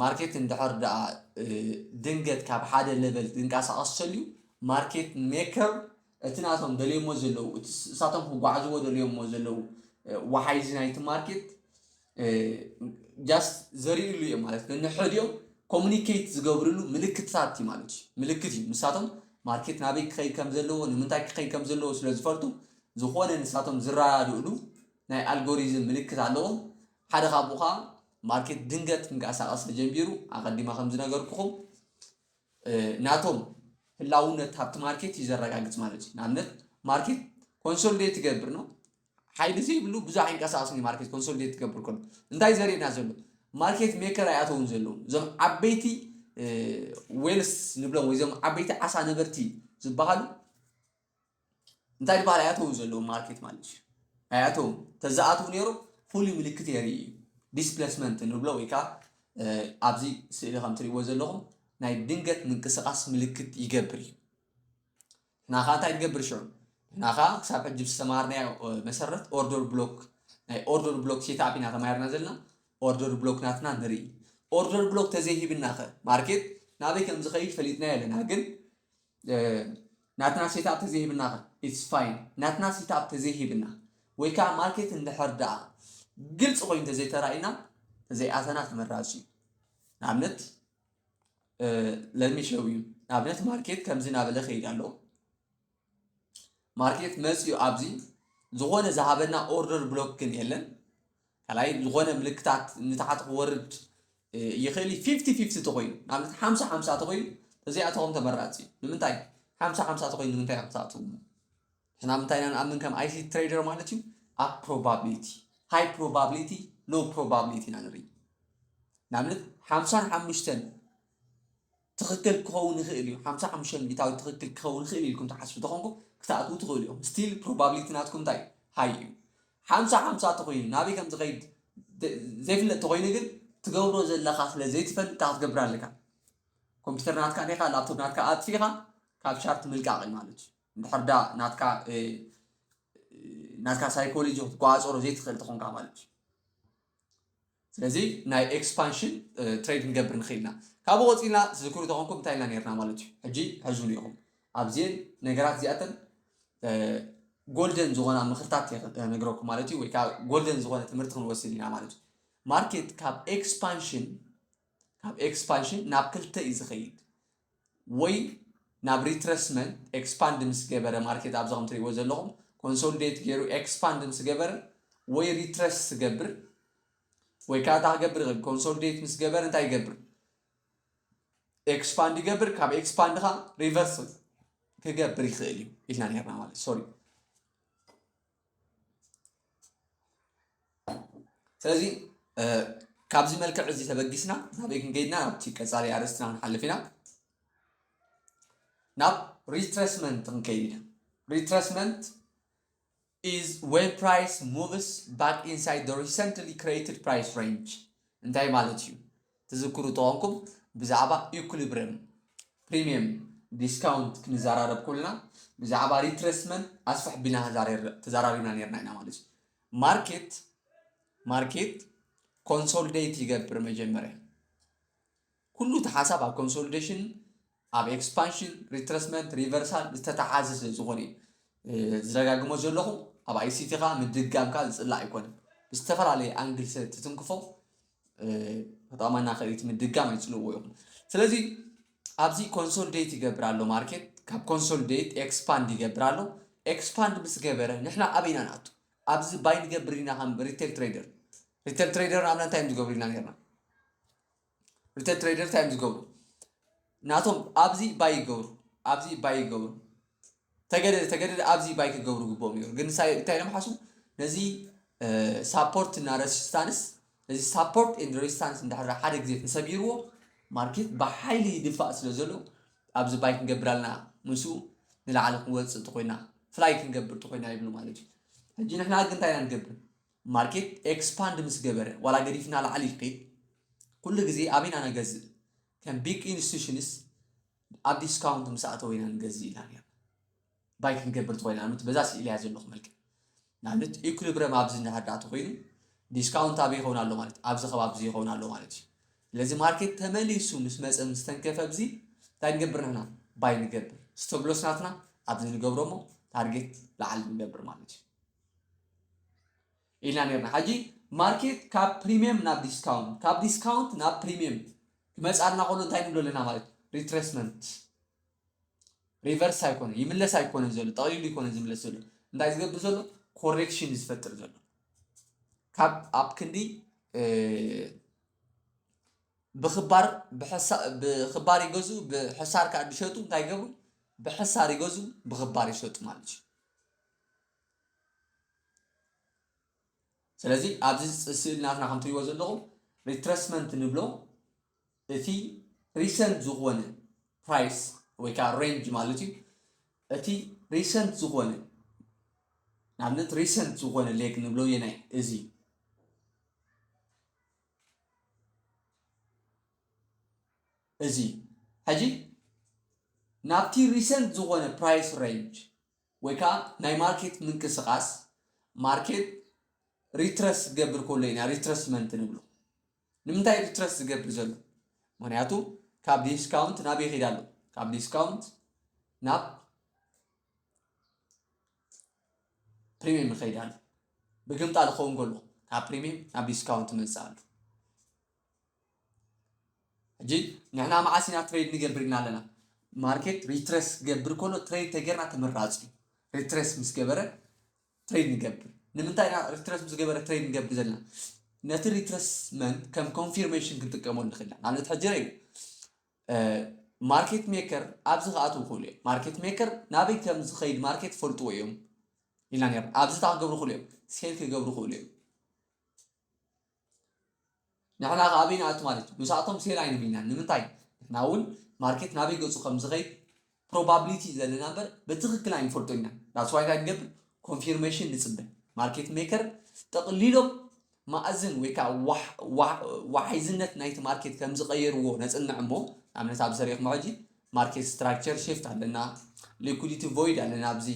ማርኬት እንድሕር ደኣ ድንገት ካብ ሓደ ለቨል ዝንቀሳቐስ ተልዩ ማርኬት ሜከር እቲ ናቶም ደልዮሞ ዘለዉ እቲ እሳቶም ክጓዓዝዎ ደልዮሞ ዘለዉ ወሓይዚ ናይቲ ማርኬት ጃስት ዘርእሉ እዮም ማለት ንንሕድኦም ኮሚኒኬት ዝገብርሉ ምልክትታት እዩ ማለት እዩ ምልክት እዩ ንሳቶም ማርኬት ናበይ ክኸይድ ከም ዘለዎ ንምንታይ ክኸይድ ከም ዘለዎ ስለ ዝፈልጡ ዝኾነ ንሳቶም ዝረዳድእሉ ናይ ኣልጎሪዝም ምልክት ኣለዎም ሓደ ካብኡ ከኣ ማርኬት ድንገት ክንቀሳቐስ ተጀሚሩ ኣቐዲመ ከም ዝነገርኩኹም ናቶም ህላውነት ሃብቲ ማርኬት እዩ ዘረጋግጽ ማለት እዩ ንኣብነት ማርኬት ኮንሶሊዴት ትገብር ነው ሓይሊ ዘይብሉ ብዙሕ ኣይንቀሳቐስን እዩ ማርኬት ኮንሶሊዴት ትገብር ከሎ እንታይ ዘርእና ዘሎ ማርኬት ሜከር ኣይኣተውን ዘለዉ እዞም ዓበይቲ ዌልስ ንብሎም ወይ እዞም ዓበይቲ ዓሳ ነበርቲ ዝበሃሉ እንታይ ድበሃል ኣያተውን ዘለዉ ማርኬት ማለት እዩ ኣያተውን ተዝኣትው ነይሩ ፍሉይ ምልክት የርኢ እዩ ዲስፕሌስመንት ንብሎ ወይ ከዓ ኣብዚ ስእሊ ከም ትሪእዎ ዘለኹም ናይ ድንገት ምንቅስቓስ ምልክት ይገብር እዩ ንሕና ከዓ እንታይ ንገብር ሽዑ ንሕና ከዓ ክሳብ ሕጂ ዝተማሃርናዮ መሰረት ኦርደር ብሎክ ናይ ኦርደር ብሎክ ሴትኣፕ ኢና ተማሂርና ዘለና ኦርደር ብሎክ ናትና ንርኢ ኦርደር ብሎክ ተዘይሂብና ኸ ማርኬት ናበይ ከም ዝኸይድ ፈሊጥናዮ ኣለና ግን ናትና ሴትኣፕ ተዘይሂብናኸ ኢትስ ፋይን ናትና ሴትኣፕ ተዘይሂብና ወይ ከዓ ማርኬት እንድሕር ደኣ ግልፂ ኮይኑ ተዘይተራእዩና ተዘይኣተና ተመራፂ እዩ ንኣብነት ለሚሸው እዩ ንኣብነት ማርኬት ከምዚ እናበለ ከይድ ኣሎ ማርኬት መፅኡ ኣብዚ ዝኾነ ዝሃበና ኦርደር ብሎክ ግን የለን ካልኣይ ዝኾነ ምልክታት ንታሕቲ ክወርድ ይኽእል እዩ ፊፍቲ ፊፍቲ ተኾይኑ ንኣብነት ሓምሳ ሓምሳ ተኾይኑ ተዘይኣተኹም ተመራፂ እዩ ንምንታይ ሓምሳ ሓምሳ ተኾይኑ ንምንታይ ኢኹም ትኣትዉ ንሕና ምንታይ ኢና ንኣምን ከም ኣይሲ ትሬደር ማለት እዩ ኣብ ፕሮባብሊቲ ሃይ ፕሮባብሊቲ ሎ ፕሮባብሊቲ ኢና ንርኢ ንኣብነት ሓምሳን ሓሙሽተን ትኽክል ክኸውን ይኽእል እዩ ሓምሳ ሓሙሽተ ሚኢታዊት ትኽክል ክኸውን ይኽእል ኢልኩም ትሓስቡ ተኾንኩም ክትኣትዉ ትኽእሉ ኢኹም ስቲል ፕሮባብሊቲ ናትኩም እንታይ እዩ ሃይ እዩ ሓምሳ ሓምሳ ተኾይኑ ናበይ ከም ዝኸይድ ዘይፍለጥ ተኾይኑ ግን ትገብሮ ዘለኻ ስለ ዘይትፈልጥ እንታይ ክትገብር ኣለካ ኮምፒተር ናትካ ኔኻ ላፕቶፕ ናትካ ኣጥፊኻ ካብ ቻርት ምልቃቕ እዩ ማለት እዩ ድሕር ዳ ናትካ ናትካ ሳይኮሎጂ ክትቆፃፀሮ ዘይትኽእል ተኾንካ ማለት እዩ ስለዚ ናይ ኤክስፓንሽን ትሬድ ክንገብር ንኽእል ኢና ካብኡ ቆፂልና ትዝክሩ ተኾንኩም እንታይ ኢልና ነርና ማለት እዩ ሕጂ ሕዙን ኢኹም ኣብዚኤን ነገራት እዚኣተን ጎልደን ዝኾና ምኽርታት ነግረኩም ማለት እዩ ወይ ከዓ ጎልደን ዝኾነ ትምህርቲ ክንወስድ ኢና ማለት እዩ ማርኬት ካብ ኤክስፓንሽን ካብ ኤክስፓንሽን ናብ ክልተ እዩ ዝኸይድ ወይ ናብ ሪትረስመንት ኤክስፓንድ ምስ ገበረ ማርኬት ኣብዚ ከም ትሪእዎ ዘለኹም ኮንሶሊዴት ገይሩ ኤክስፓንድ ምስ ገበረ ወይ ሪትረስ ትገብር ወይ ከዓ እንታይ ክገብር ይኽእል ኮንሶሊዴት ምስ ገበረ እንታይ ይገብር ኤክስፓንድ ይገብር ካብ ኤክስፓንድ ከዓ ሪቨርስ ክገብር ይኽእል እዩ ኢልና ነርና ማለት ሶሪ ስለዚ ካብዚ መልክዕ እዚ ተበጊስና ናበይ ክንገይድና ናብቲ ቀፃሊ ኣርእስትና ክንሓልፍ ኢና ናብ ሪትረስመንት ክንከይድ ኢና ሪትረስመንት ኢዝ ዌን ፕራይስ ሙቭስ ባክ ኢንሳይድ ሪሰንትሊ ክሬትድ ፕራይስ ሬንጅ እንታይ ማለት እዩ ትዝክሩ ተኾንኩም ብዛዕባ ኢኩሊብርየም ፕሪሚየም ዲስካውንት ክንዘራረብ ኩልና ብዛዕባ ሪትረስመንት ኣስፍሕ ቢልና ተዘራሪብና ነርና ኢና ማለት እዩ ማርኬት ማርኬት ኮንሶልዴት ይገብር መጀመርያ ኩሉ እቲ ሓሳብ ኣብ ኮንሶልዴሽን ኣብ ኤክስፓንሽን ሪትረስመንት ሪቨርሳል ዝተተሓዘ ስለ ዝኾነ እዩ ዝደጋግሞ ዘለኹ ኣብ ኣይሲቲ ከዓ ምድጋም ከዓ ዝፅላእ ኣይኮነን ብዝተፈላለየ ኣንግል ስለ ትትንክፎ ተጠቕመና ከእቲ ምድጋም ኣይፅልዎ ይኹን ስለዚ ኣብዚ ኮንሶልዴት ይገብር ኣሎ ማርኬት ካብ ኮንሶልዴት ኤክስፓንድ ይገብር ኣሎ ኤክስፓንድ ምስ ገበረ ንሕና ኣበይ ኢና ንኣቱ ኣብዚ ባይ ንገብር ኢና ከም ሪቴል ትሬደር ሪቴል ትሬደር ንኣብና እንታይ እዮም ዝገብሩ ኢና ነርና ሪቴል ትሬደር እንታይ እዮም ዝገብሩ ናቶም ኣብዚ ባይ ይገብሩ ኣብዚ ባይ ይገብሩ ተገደደ ተገደደ ኣብዚ ባይ ክገብሩ ግብኦም ይሩ ግን ሳይ እንታይ ኢሎም ሓስቡ ነዚ ሳፖርት እና ረሲስታንስ ነዚ ሳፖርት ን ረሲስታንስ እንዳሕራ ሓደ ግዜ ተሰቢርዎ ማርኬት ብሓይሊ ይድፋእ ስለ ዘሎ ኣብዚ ባይ ክንገብር ኣለና ምስኡ ንላዕሊ ክንወፅእ ተኮይና ፍላይ ክንገብር ተኮይና ይብሉ ማለት እዩ ሕጂ ንሕና ግን እንታይ ኢና ንገብር ማርኬት ኤክስፓንድ ምስ ገበረ ዋላ ገዲፍና ላዕሊ ይኺድ ኩሉ ግዜ ኣበይ ኢና ነገዝእ ከም ቢግ ኢንስቲቱሽንስ ኣብ ዲስካውንት ምስ ኣእተወ ኢና ንገዝእ ኢልና ነይርና ባይ ክንገብር ተኾይና ንኣብነት በዛ ስእሊ እያ ዘለኹ መልክዕ ንኣብነት ኢኩሊብረም ኣብዚ እንድሕር ተኾይኑ ዲስካውንት ኣበይ ይኸውን ኣሎ ማለት እዩ ኣብዚ ከባቢ እዚ ይኸውን ኣሎ ማለት እዩ ስለዚ ማርኬት ተመሊሱ ምስ መፀ ምስ ተንከፈ ኣብዚ እንታይ ንገብር ንሕና ባይ ንገብር ስቶፕሎስ ናትና ኣብዚ ንገብሮ እሞ ታርጌት ላዕሊ ንገብር ማለት እዩ ኢልና ኔርና ሐጂ ማርኬት ካብ ፕሪምየም ናብ ዲስካውንት ካብ ዲስካውንት ናብ ፕሪምየም ክመጽኣልና ከሎ እንታይ ንብሎ ኣለና ማለት እዩ ሪትሬስመንት ሪቨርስ ኣይኮነ ይምለስ ኣይኮነ ዘሎ ጠቕሊሉ ይኮነ ዝምለስ ዘሎ እንታይ ዝገብር ዘሎ ኮሬክሽን ዝፈጥር ዘሎ ካብ ኣብ ክንዲ ብክባር ብክባር ይገዙ ብሕሳር ከዓ ዝሸጡ እንታይ ይገብሩ ብሕሳር ይገዙ ብክባር ይሸጡ ማለት እዩ ስለዚ ኣብዚ ስእሊ ናትና ከም ትሪእዎ ዘለኹም ሪትረስመንት ንብሎ እቲ ሪሰንት ዝኾነ ፕራይስ ወይ ከዓ ሬንጅ ማለት እዩ እቲ ሪሰንት ዝኾነ ንኣብነት ሪሰንት ዝኾነ ሌግ ንብሎ የናይ እዚ እዚ ሕጂ ናብቲ ሪሰንት ዝኾነ ፕራይስ ሬንጅ ወይ ከኣ ናይ ማርኬት ምንቅስቃስ ማርኬት ሪትረስ ክገብር ከሎ ኢና ሪትረስመንት ንብሎ። ንምንታይ እዩ ሪትረስ ዝገብር ዘሎ? ምክንያቱ ካብ ዲስካውንት ናብ ይኸይድ ኣሎ። ካብ ዲስካውንት ናብ ፕሪሚየም ይኸይድ ኣሎ። ብግምጣ ዝኸውን ከሎ ካብ ፕሪሚየም ናብ ዲስካውንት ይመጽእ ኣሎ። ሕጂ ንሕና መዓስ ኢና ትሬድ ንገብር ኢልና ኣለና ማርኬት ሪትረስ ክገብር ከሎ ትሬድ ተገርና ተመራፂ እዩ ሪትረስ ምስ ገበረ ትሬድ ንገብር ንምንታይ ኢና ሪትረስ ምስ ገበረ ትሬድ ንገብር ዘለና ነቲ ሪትረስመንት ከም ኮንፊርሜሽን ክንጥቀመሉ ንኽእል ኢና ንኣብነት ሕጂ ረዩ ማርኬት ሜከር ኣብዚ ክኣትው ይኽእሉ እዮም ማርኬት ሜከር ናበይ ከም ዝኸይድ ማርኬት ፈልጥዎ እዮም ኢልና ነርና ኣብዚ እታ ክገብሩ ይኽእሉ እዮም ሴል ክገብሩ ይኽእሉ እዮም ንሕና ከ ኣበይ ንኣቱ ማለት እዩ ምሳኣቶም ሴል ኣይንብልናን ንምንታይ ንሕና እውን ማርኬት ናበይ ገጹ ከም ዝኸይድ ፕሮባብሊቲ እዩ ዘለና እምበር ብትክክል ኣይንፈልጦ ኢና ዳስዋይ እንታይ ንገብር ኮንፊርሜሽን ንጽበ ማርኬት ሜከር ጠቕሊሎም ማእዝን ወይ ከዓ ዋሕዝነት ናይቲ ማርኬት ከም ዝቐየርዎ ነጽንዕ እሞ ንኣብነት ኣብ ሰሪኹም ሕጂ ማርኬት ስትራክቸር ሽፍት ኣለና ሊኩዲቲ ቮይድ ኣለና ኣብዚ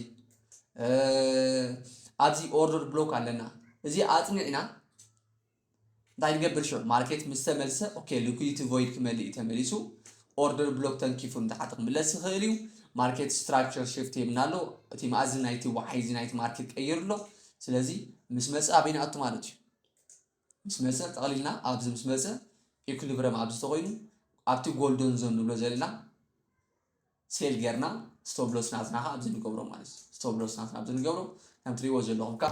ኣብዚ ኦርደር ብሎክ ኣለና እዚ ኣፅኒዕና እንታይ ንገብር ሽዑ ማርኬት ምስ ተመልሰ ኦኬ ሊኩዲቲ ቮይድ ክመልእ እዩ ተመሊሱ ኦርደር ብሎክ ተንኪፉ ንታሓቲ ክምለስ ይኽእል እዩ ማርኬት ስትራክቸር ሽፍት ይብና ኣሎ እቲ መኣዝን ናይቲ ወዓይ እዚ ናይቲ ማርኬት ቀይሩ ኣሎ ስለዚ ምስ መፀ ኣበይ ንኣቱ ማለት እዩ ምስ መጸ ጠቕሊልና ኣብዚ ምስ መጸ ኢኩሊብረም ኣብዚ ተኾይኑ ኣብቲ ጎልዶን ዞን ንብሎ ዘለና ሴል ጌርና ስቶብሎስ ናትና ከ ኣብዚ ንገብሮ ማለት እዩ ስቶብሎስ ናትና ኣብዚ ንገብሮ ከም ትሪእዎ ዘለኹም ከ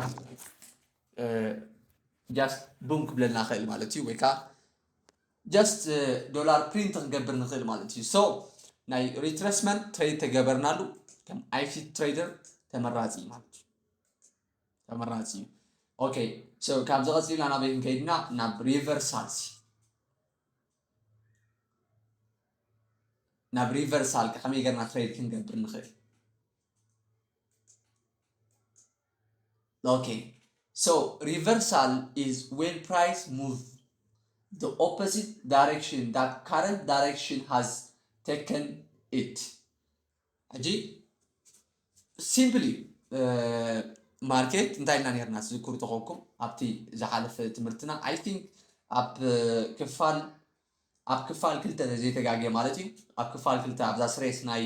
ጃስት ቡም ክብለልና ክእል ማለት እዩ ወይ ከዓ ጃስት ዶላር ፕሪንት ክንገብር ንኽእል ማለት እዩ ሶ ናይ ሪትረስመንት ትሬድ ተገበርናሉ ከም ኣይፊት ትሬደር ተመራፂ ማለት እዩ ተመራጺ እዩ ኦከይ ሶ ካብዚ ቀጺልና ናበይ ክንከይድና ናብ ሪቨርሳልሲ ናብ ሪቨርሳል ከመይ ገርና ትሬድ ክንገብር ንኽእል ኦኬ ሶ ሪቨርሳል ኢዝ ዌን ፕራይስ ሙቭ the opposite direction that current direction has taken it ሕጂ ሲምፕሊ ማርኬት እንታይ ኢና ነርና ትዝክሩ ተኾንኩም ኣብቲ ዝሓለፈ ትምህርትና ኣይ ቲንክ ኣብ ክፋል ኣብ ክፋል ክልተ ዘይተጋገ ማለት እዩ ኣብ ክፋል ክልተ ኣብዛ ስሬስ ናይ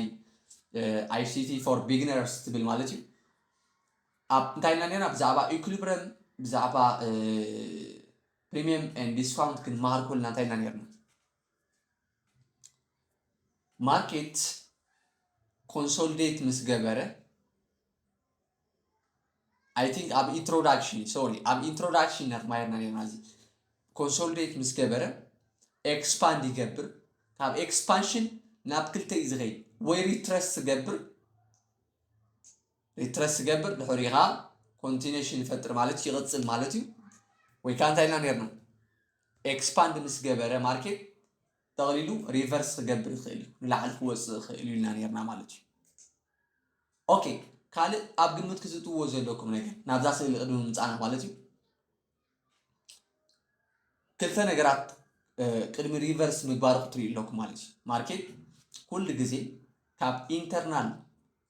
ኣይሲቲ ፎር ቢግነርስ ትብል ማለት እዩ ኣብ እንታይ ኢና ነርና ብዛዕባ ኢኩሊብረም ብዛዕባ ፕሪሚየም ን ዲስካውንት ክንመሃር ኮልና እንታይ ኢና ነርና ማርኬት ኮንሶልዴት ምስ ገበረ ኣይ ቲንክ ኣብ ኢንትሮዳክሽን ሶሪ ኣብ ኢንትሮዳክሽን ነርማየርና ኔርና እዚ ኮንሶልዴት ምስ ገበረ ኤክስፓንድ ይገብር ካብ ኤክስፓንሽን ናብ ክልተ እዩ ዝኸይድ ወይ ሪትረስ ዝገብር ሪትረስ ትገብር ድሕሪኡ ከዓ ኮንቲነሽን ይፈጥር ማለት ይቕፅል ማለት እዩ ወይ ከዓ እንታይ ኢልና ነርና ኤክስፓንድ ምስ ገበረ ማርኬት ጠቕሊሉ ሪቨርስ ክገብር ይኽእል እዩ ንላዕሊ ክወፅእ ይኽእል ኢልና ነርና ማለት እዩ ኦኬ ካልእ ኣብ ግምት ክዝእትዎ ዘለኩም ነገር ናብዛ ስእሊ ቅድሚ ምምፃእና ማለት እዩ ክልተ ነገራት ቅድሚ ሪቨርስ ምግባሩ ክትሪኡ ኣለኩም ማለት እዩ ማርኬት ኩሉ ግዜ ካብ ኢንተርናል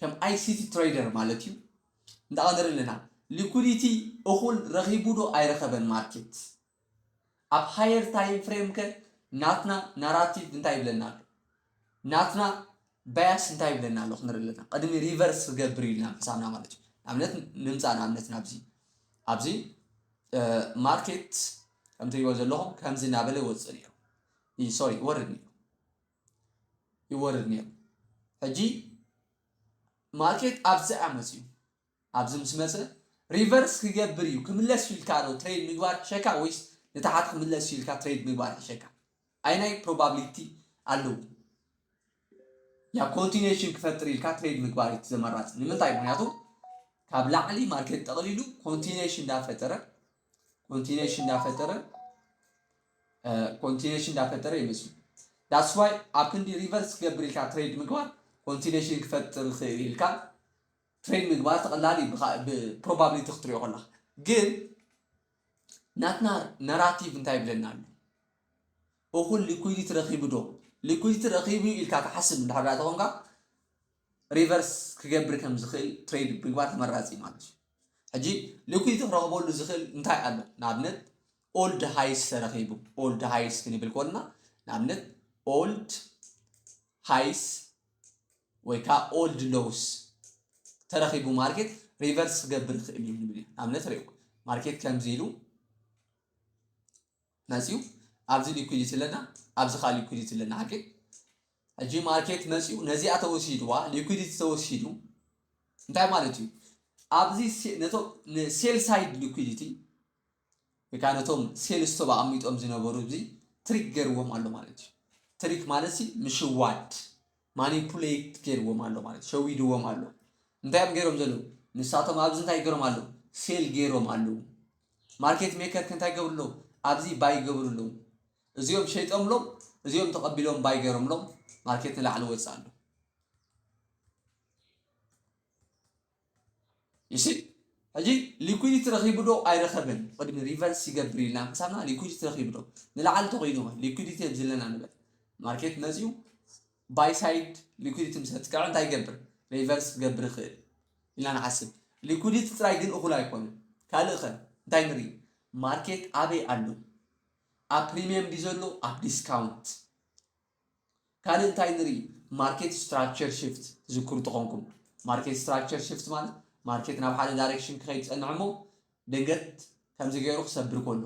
ከም ኣይሲቲ ትረይደር ማለት እዩ እንዳቀደረ ኣለና ሊኩዲቲ እኩል ረኪቡ ዶ ኣይረከበን ማርኬት ኣብ ሃየር ታይም ፍሬም ከ ናትና ናራቲቭ እንታይ ይብለና ኣሎ ናትና ባያስ እንታይ ይብለና ኣሎ ክንርኢ ኣለና ቅድሚ ሪቨርስ ክገብር ኢልና ምሳና ማለት እዩ ኣብነት ንምፃእ ንኣብነት ናብዚ ኣብዚ ማርኬት ከምትሪእዎ ዘለኹም ከምዚ እናበለ ወፅእ ነይሩ ሶሪ ወርድ ነይሩ ይወርድ ነይሩ ሕጂ ማርኬት ኣብዚ ኣያ መጽዩ ኣብዚ ምስ መጸ ሪቨርስ ክገብር እዩ ክምለስ ኢልካ ዶ ትሬድ ምግባር ሕሸካ ወይስ ንታሓት ክምለስ ኢልካ ትሬድ ምግባር ሕሸካ ኣይናይ ፕሮባብሊቲ ኣለዎ ያ ኮንቲኔሽን ክፈጥር ኢልካ ትሬድ ምግባር እዩ ዘመራጽ ንምንታይ ምክንያቱ ካብ ላዕሊ ማርኬት ጠቕሊሉ ኮንቲኔሽን እንዳፈጠረ ኮንቲኔሽን እንዳፈጠረ ኮንቲኔሽን እንዳፈጠረ ይመስሉ ዳስ ዋይ ኣብ ክንዲ ሪቨርስ ክገብር ኢልካ ትሬድ ምግባር ኮንቲኔሽን ክፈጥር ይኽእል ኢልካ ትሬድ ምግባር ተቐላል እዩ ብፕሮባብሊቲ ክትሪኦ ከለካ ግን ናትና ነራቲቭ እንታይ ይብለና ኣሎ እኹል ሊኩዊዲቲ ረኺቡ ዶ ሊኩዊዲቲ ረኺቡ ኢልካ ትሓስብ እንድሕር ተኾንካ ሪቨርስ ክገብር ከም ዝኽእል ትሬድ ምግባር ተመራፂ ማለት እዩ ሕጂ ልኩይ ክረኽበሉ ዝኽእል እንታይ ኣሎ ንኣብነት ኦልድ ሃይስ ተረኺቡ ኦልድ ሃይስ ክንብል ኮልና ንኣብነት ኦልድ ሃይስ ወይ ከዓ ኦልድ ሎውስ ተረኺቡ ማርኬት ሪቨርስ ክገብር ይኽእል እዩ ንብል ኢና ንኣብነት ሪኦ ማርኬት ከምዚ ኢሉ መጽዩ ኣብዚ ሊኩዲቲ ኣለና ኣብዚ ከኣ ሊኩዲቲ ኣለና ሓቂ ሕጂ ማርኬት መጽዩ ነዚኣ ተወሲድዋ ሊኩዲቲ ተወሲዱ እንታይ ማለት እዩ ኣብዚ ነቶም ንሴል ሳይድ ሊኩዲቲ ወይ ከዓ ነቶም ሴል ስቶብ ኣቐሚጦም ዝነበሩ እዚ ትሪክ ገርዎም ኣሎ ማለት እዩ ትሪክ ማለት ምሽዋድ ማኒፑሌት ጌርዎም ኣሎ ማለት እዩ ሸዊድዎም ኣሎ እንታይ እዮም ጌሮም ዘለዉ ንሳቶም ኣብዚ እንታይ ጌሮም ኣለዉ ሴል ጌሮም ኣለዉ ማርኬት ሜከር ከንታይ ገብሩ ኣለዉ ኣብዚ ባይ ገብሩ ኣለዉ እዚኦም ሸይጦምሎም እዚኦም ተቐቢሎም ባይ ገይሮምሎም ማርኬት ንላዕሊ ወፅእ ኣሎ ይሲ ሕጂ ሊኩዲቲ ረኺቡ ዶ ኣይረኸበን ቅድሚ ሪቨርስ ይገብር ኢልና ምሳና ሊኩዲቲ ረኺቡ ዶ ንላዕሊ ተኮይኑ ሊኩዲቲ ኣብ ዘለና ንበል ማርኬት መፅኡ ባይ ሳይድ ሊኩዲቲ ምስ ኣጥቅዐ እንታይ ይገብር ሪቨርስ ክገብር ይኽእል ኢልና ንሓስብ ሊኩዲቲ ጥራይ ግን እኹል ኣይኮነን ካልእ ኸ እንታይ ንርኢ ማርኬት ኣበይ ኣሎ ኣብ ፕሪሚየም ድዩ ዘሎ ኣብ ዲስካውንት ካልእ እንታይ ንርኢ ማርኬት ስትራክቸር ሽፍት ትዝክሩ ተኾንኩም ማርኬት ስትራክቸር ሽፍት ማለት ማርኬት ናብ ሓደ ዳይሬክሽን ክኸይድ ፀንሕ እሞ ድንገት ከምዚ ገይሩ ክሰብር ከሎ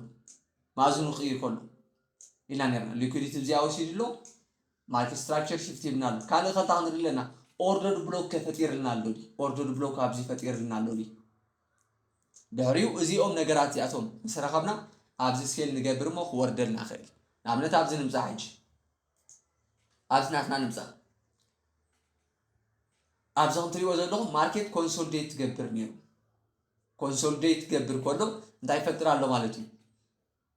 ማእዝኑ ክቕይር ከሎ ኢልና ነርና ሊኩዲቲ ብዚኣ ወሲዱ ኣሎ ማርኬት ስትራክቸር ሽፍት ይብና ኣሎ ካልእ ከንታ ክንርኢ ኣለና ኦርደር ብሎክ ከፈጢርልና ኣሎ ኦርደር ብሎክ ኣብዚ ፈጢርልና ኣሎ ድሕሪኡ እዚኦም ነገራት እዚኣቶም ምስ ረኸብና ኣብዚ ስኬል ንገብር እሞ ክወርደልና ይኽእል እዩ ንኣብነት ኣብዚ ንምፃ ሕጂ ኣብዚ ናትና ንምፃ ኣብዚ ከምትሪእዎ ዘለኹም ማርኬት ኮንሶልዴት ትገብር ነይሩ ኮንሶልዴት ትገብር ከሎ እንታይ ይፈጥር ኣሎ ማለት እዩ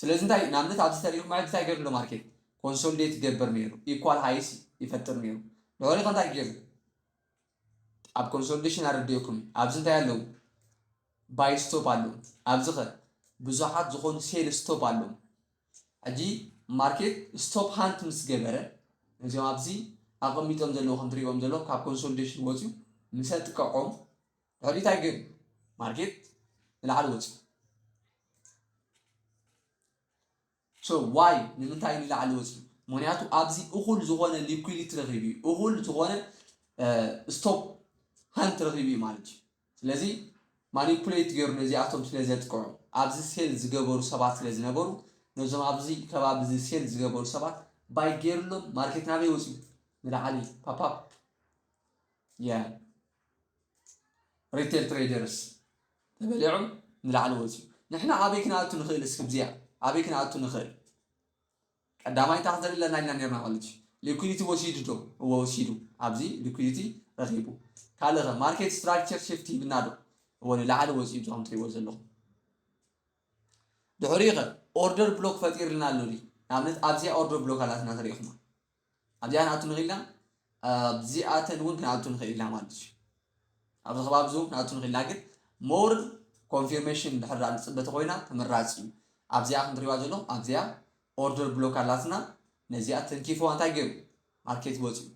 ስለዚ እንታይ ንኣብነት ኣብዚ ተሪእኹም ማለት እንታይ ገይሩ ኣሎ ማርኬት ኮንሶልዴት ይገብር ነይሩ ኢኳል ሃይስ ይፈጥር ነይሩ ድሕሪ ከ እንታይ ገይሩ ኣብ ኮንሶልዴሽን ኣረዲኡኩም ኣብዚ እንታይ ኣለዉ ባይ ስቶፕ ኣለዉ ኣብዚ ከ ብዙሓት ዝኾኑ ሴል ስቶፕ ኣለዉ ሕጂ ማርኬት ስቶፕ ሃንት ምስ ገበረ እዚኦም ኣብዚ ኣቐሚጦም ዘለዉ ከም ትሪእዎም ዘለኹም ካብ ኮንሶልዴሽን ወፅዩ ምሰ ጥቀዖም ረድኢት ኣይገን ማርኬት ንላዕሊ ወፂኡ ሶ ዋይ ንምንታይ ንላዕሊ ወፂኡ ምክንያቱ ኣብዚ እኹል ዝኾነ ሊኩሊቲ ረኺቡ እዩ እኹል ዝኾነ ስቶፕ ሃንት ረኺቡ እዩ ማለት እዩ ስለዚ ማኒፑሌት ገይሩ ነዚኣቶም ስለ ዘጥቅዑ ኣብዚ ሴል ዝገበሩ ሰባት ስለ ዝነበሩ ነዞም ኣብዚ ከባቢ እዚ ሴል ዝገበሩ ሰባት ባይ ገይርሎም ማርኬት ናበይ ወፂኡ ንላዕሊ ፓፓፕ ያ ሪቴል ትሬደርስ ተበሊዑ ንላዕሊ ወፂኡ ንሕና ኣበይ ክንኣቱ ንኽእል እስኪ ብዚኣ ኣበይ ክንኣቱ ንኽእል ቀዳማይ እንታይ ክንዘርኢ ኣለና ኢልና ነርና ማለት እዩ ሊኩዲቲ ወሲዱ ዶ እወ ወሲዱ ኣብዚ ሊኩዲቲ ረኺቡ ካልእ ኸ ማርኬት ስትራክቸር ሽፍት ሂብና ዶ እወ ንላዕሊ ወፂኡ ዞም ትሪእዎ ዘለኹም ድሕሪኡ ኸ ኦርደር ብሎክ ፈጢርልና ኣሎ ድዩ ንኣብነት ኣብዚኣ ኦርደር ብሎክ ኣላትና ተሪኢኹማ ኣብዚኣ ንኣቱ ንኽእል ኢና ኣብዚኣተን እውን ክንኣቱ ንኽእል ኢና ማለት እዩ ኣብዚ ከባቢ እውን ክንኣቱ ንኽእል ኢና ግን ሞር ኮንፊርሜሽን ድሕር ንፅበ ተኮይና ተመራፂ እዩ ኣብዚኣ ክንትሪዋ ዘለኹም ኣብዚኣ ኦርደር ብሎክ ኣላትና ነዚኣ ተንኪፍዋ እንታይ ገይሩ ማርኬት ወፅኡ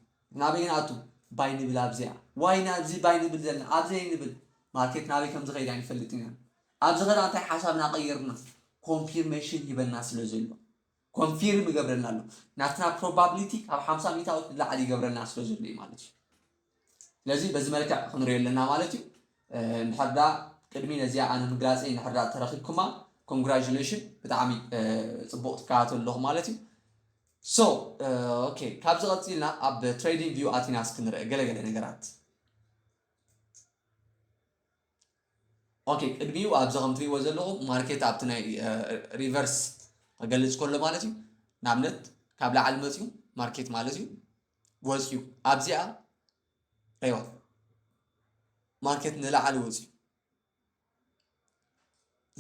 ናበይ ንኣቱ ባይ ንብል ኣብዚኣ ዋይ ናብዚ ባይ ንብል ዘለና ኣብዘይ ንብል ማርኬት ናበይ ከም ዝኸይድ ኣይንፈልጥን ኢና ኣብዚ ኸዳ እንታይ ሓሳብና ቀይርና ኮንፊርሜሽን ሂበና ስለ ዘሎ ኮንፊርም ይገብረልና ኣሎ ናትና ፕሮባብሊቲ ካብ ሓምሳ ሚታዊት ንላዕሊ ይገብረልና ስለ ዘሎ እዩ ማለት እዩ ስለዚ በዚ መልክዕ ክንሪኦ ኣለና ማለት እዩ እንድሕርዳ ቅድሚ ነዚኣ ኣነ ምግላፀይ እንድሕርዳ ተረኪብኩማ ኮንግራጁሌሽን ብጣዕሚ ፅቡቅ ትከታተሉ ኣለኹ ማለት እዩ ሶ ኦኬ ካብዚ ቀፂልና ኣብ ትሬዲንግ ቪው ኣቲናስ ክንርአ ገለገለ ነገራት ኦኬ ቅድሚኡ ኣብዚ ከም ትሪእዎ ዘለኹም ማርኬት ኣብቲ ናይ ሪቨርስ ክገልጽ ከሎ ማለት እዩ ንኣብነት ካብ ላዕሊ መፅዩ ማርኬት ማለት እዩ ወፅዩ ኣብዚኣ ረዋ ማርኬት ንላዕሊ ወፅዩ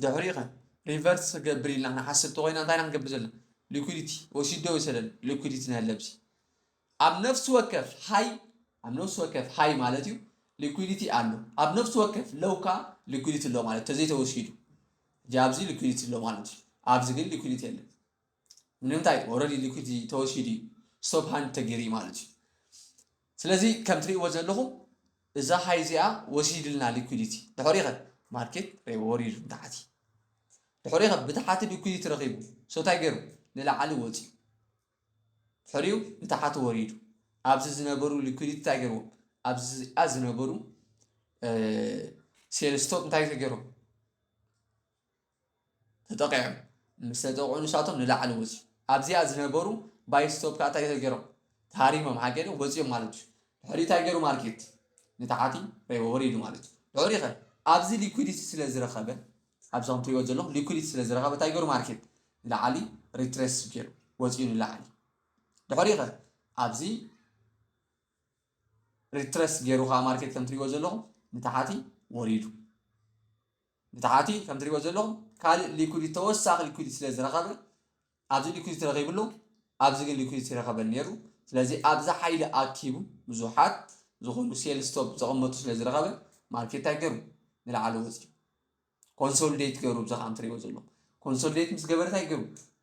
ድሕሪ ኸ ሪቨርስ ክገብር ኢልና ክንሓስብ ተኮይና እንታይ ኢና ክንገብር ዘለና ሊኩዲቲ ወሲዶ ወይሰደን ሊኩዲቲ ንህለብሲ ኣብ ነፍሲ ወከፍ ሃይ ኣብ ነፍሲ ወከፍ ሃይ ማለት እዩ ሊኩዲቲ ኣሎ ኣብ ነፍሲ ወከፍ ሎው ከ ሊኩዲቲ ኣሎ ማለት ተዘይተወሲዱ እዚ ኣብዚ ሊኩዲቲ ኣሎ ማለት እዩ ኣብዚ ግን ሊኩዲቲ የለን ንምንታይ ኦልሬዲ ሊኩዲቲ ተወሲዱ እዩ ስቶፕ ሃንድ ተገይሩ እዩ ማለት እዩ ስለዚ ከም ትርእይዎ ዘለኹም እዛ ሃይ እዚኣ ወሲድልና ሊኩዲቲ ድሕሪ ኸ ማርኬት ወሪዱ ንታሕቲ ድሕሪ ኸ ብታሕቲ ሊኩዲቲ ረኺቡ ሶ እንታይ ገይሩ ንላዕሊ ወፂኡ ፍሪው ንታሓቲ ወሪዱ ኣብዚ ዝነበሩ ሊኩዲቲ እንታይ ገይርዎ ኣብዚኣ ዝነበሩ ሴል ስቶፕ እንታይ ተገይሮም ተጠቂዖም ምስ ተጠቕዑ ንሳቶም ንላዕሊ ወፂኡ ኣብዚኣ ዝነበሩ ባይ ስቶፕ ከዓ እንታይ ተገይሮም ተሃሪሞም ሓገደ ወፂኦም ማለት እዩ ድሕሪ እንታይ ገይሩ ማርኬት ንታሓቲ ረይቦ ወሪዱ ማለት እዩ ድሕሪ ኸ ኣብዚ ሊኩዲቲ ስለ ዝረኸበ ኣብዚ ከምትሪእዎ ዘለኹም ሊኩዲቲ ስለ ዝረኸበ እንታይ ገይሩ ማርኬት ንላዕሊ ሪትሬስ ገይሩ ወፂኡ ንላዕሊ ድሕሪኡ ከ ኣብዚ ሪትረስ ገይሩ ከዓ ማርኬት ከም ትሪእዎ ዘለኹም ንታሓቲ ወሪዱ ንታሓቲ ከም ትሪእዎ ዘለኹም ካልእ ሊኩዲቲ ተወሳኺ ሊኩዲቲ ስለ ዝረኸበ ኣብዚ ሊኩዲቲ ረኺብሉ ኣብዚ ግን ሊኩዲቲ ረኸበል ነይሩ ስለዚ ኣብዚ ሓይሊ ኣኪቡ ብዙሓት ዝኾኑ ሴል ስቶፕ ዘቐመጡ ስለ ዝረኸበ ማርኬት እንታይ ገይሩ ንላዕሊ ወፂኡ ኮንሶልዴት ገሩ ብዚ ከም ትሪእዎ ዘለኹም ኮንሶልዴት ምስ ገበረ እንታይ ገሩ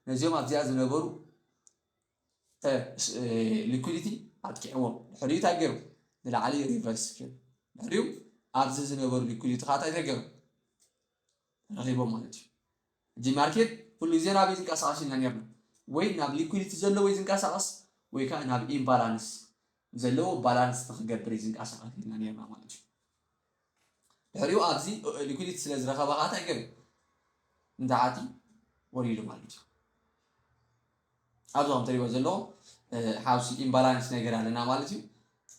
ነዚኦም ኣብዚኣ ዝነበሩ ሊኩዲቲ ኣጥቂዕዎም ድሕሪኡ እንታይ ገሩ ንላዕሊ ሪቨርስ ገሩ ድሕሪኡ ኣብዚ ዝነበሩ ሊኩዲቲ ከዓ እንታይ ገሩ ረኺቦም ማለት እዩ እዚ ማርኬት ኩሉ ግዜ ናብ ዝንቀሳቐስ ኢና ነርና ወይ ናብ ሊኩዲቲ ዘሎ ወይ ዝንቀሳቐስ ወይ ከዓ ናብ ኢምባላንስ ዘለዎ ባላንስ ንክገብር እዩ ዝንቃሳቀሰልና ነርና ማለት እዩ ድሕሪኡ ኣብዚ ሊኩዲቲ ስለ ዝረኸበ ከዓ እንታይ ገብ ንታዓቲ ወሪዱ ማለት እዩ ኣብዚ ከም ትሪእዎ ዘለኹም ሓውሲ ኢምባላንስ ነገር ኣለና ማለት እዩ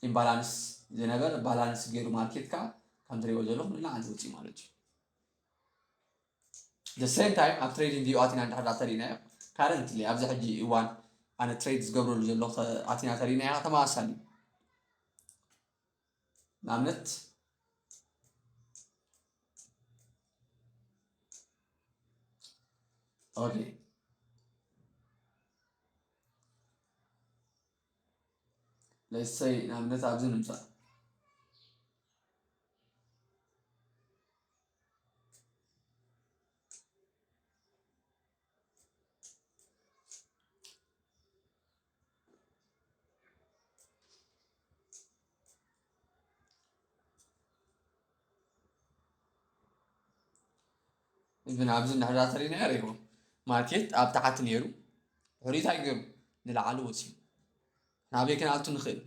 ኢምባላንስ ዝነበረ ባላንስ ገይሩ ማርኬት ከዓ ከም ትሪእዎ ዘለኹም ንላዕሊ ወፂኡ ማለት እዩ the same time ኣብ ትሬዲንግ ቪው ኣቲና እንድሕር ዳኣ ተሪእናዮ currently ኣብዚ ሕጂ እዋን ኣነ ትሬድ ዝገብረሉ ዘሎ ኣቲና ተሪእናያ ተመሳሳሊ እዩ ንኣብነት ኦኬ let's say ንኣብነት ኣብዚ ንምፃእ ግን ኣብዚ እንድሕር ተሪእናዮ ሪኢኹም ማርኬት ኣብ ታሕቲ ነይሩ ድሕሪኡ እንታይ ገይሩ ንላዕሊ ወፂኡ ናበይ ክንኣቱ ንኽእል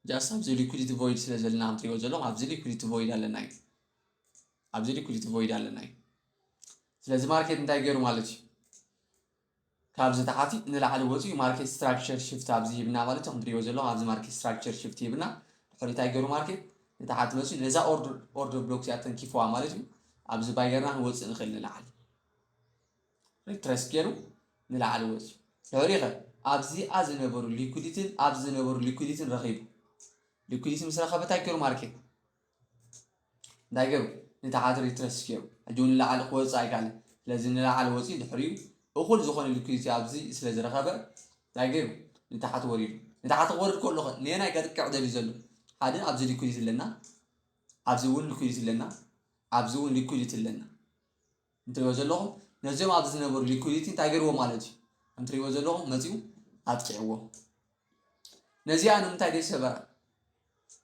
ጃስት ኣብዚ ሊኩዲቲ ቮይድ ስለ ዘለና ከምትሪእዎ ዘለኹም ኣብዚ ሊኩዲቲ ቮይድ ኣለና እዩ ኣብዚ ሊኩዲቲ ቮይድ ኣለና እዩ ስለዚ ማርኬት እንታይ ገይሩ ማለት እዩ ካብዚ ተሓቲ ንላዕሊ ወፅኡ ማርኬት ስትራክቸር ሽፍት ኣብዚ ሂብና ማለት እዩ ከምትሪእዎ ዘለኹ ኣብዚ ማርኬት ስትራክቸር ሽፍት ሂብና ድሕሪ እንታይ ገይሩ ማርኬት ንተሓቲ መፅኡ ነዛ ኦርደር ብሎክ እዚኣ ተንኪፍዋ ማለት እዩ ኣብዚ ባይ ገርና ክንወፅእ ንኽእል ንላዕሊ ሪትረስ ገይሩ ንላዕሊ ወፅኡ ድሕሪ ኸ ኣብዚኣ ዝነበሩ ሊኩዲትን ኣብዚ ዝነበሩ ሊኩዲትን ረኺቡ ሊኩዲቲ ምስ ረኸበ እንታይ ገይሩ ማርኬት እንታይ ገይሩ ንተዓትር ይትረስ ገይሩ ሕጂ እውን ንላዕሊ ክወፅእ ኣይከኣለን ስለዚ ንላዕሊ ወፂኡ ድሕሪኡ እኹል ዝኾነ ልኩይቲ ኣብዚ ስለ ዝረኸበ እንታይ ገይሩ ንታሕቲ ወሪዱ ንታሕቲ ክወርድ ከሎ ኸ ንየናይ ከጥቅዕ ደልዩ ዘሎ ሓደ ኣብዚ ልኩይቲ ኣለና ኣብዚ እውን ልኩይቲ ኣለና ኣብዚ እውን ልኩይቲ ኣለና እንትሪእዎ ዘለኹም ነዚኦም ኣብዚ ዝነበሩ ሊኩዲቲ እንታይ ገይርዎ ማለት እዩ ከም ትሪእዎ ዘለኹም መፂኡ ኣጥቂዕዎ ነዚኣ ንምንታይ ደይ ሰበራ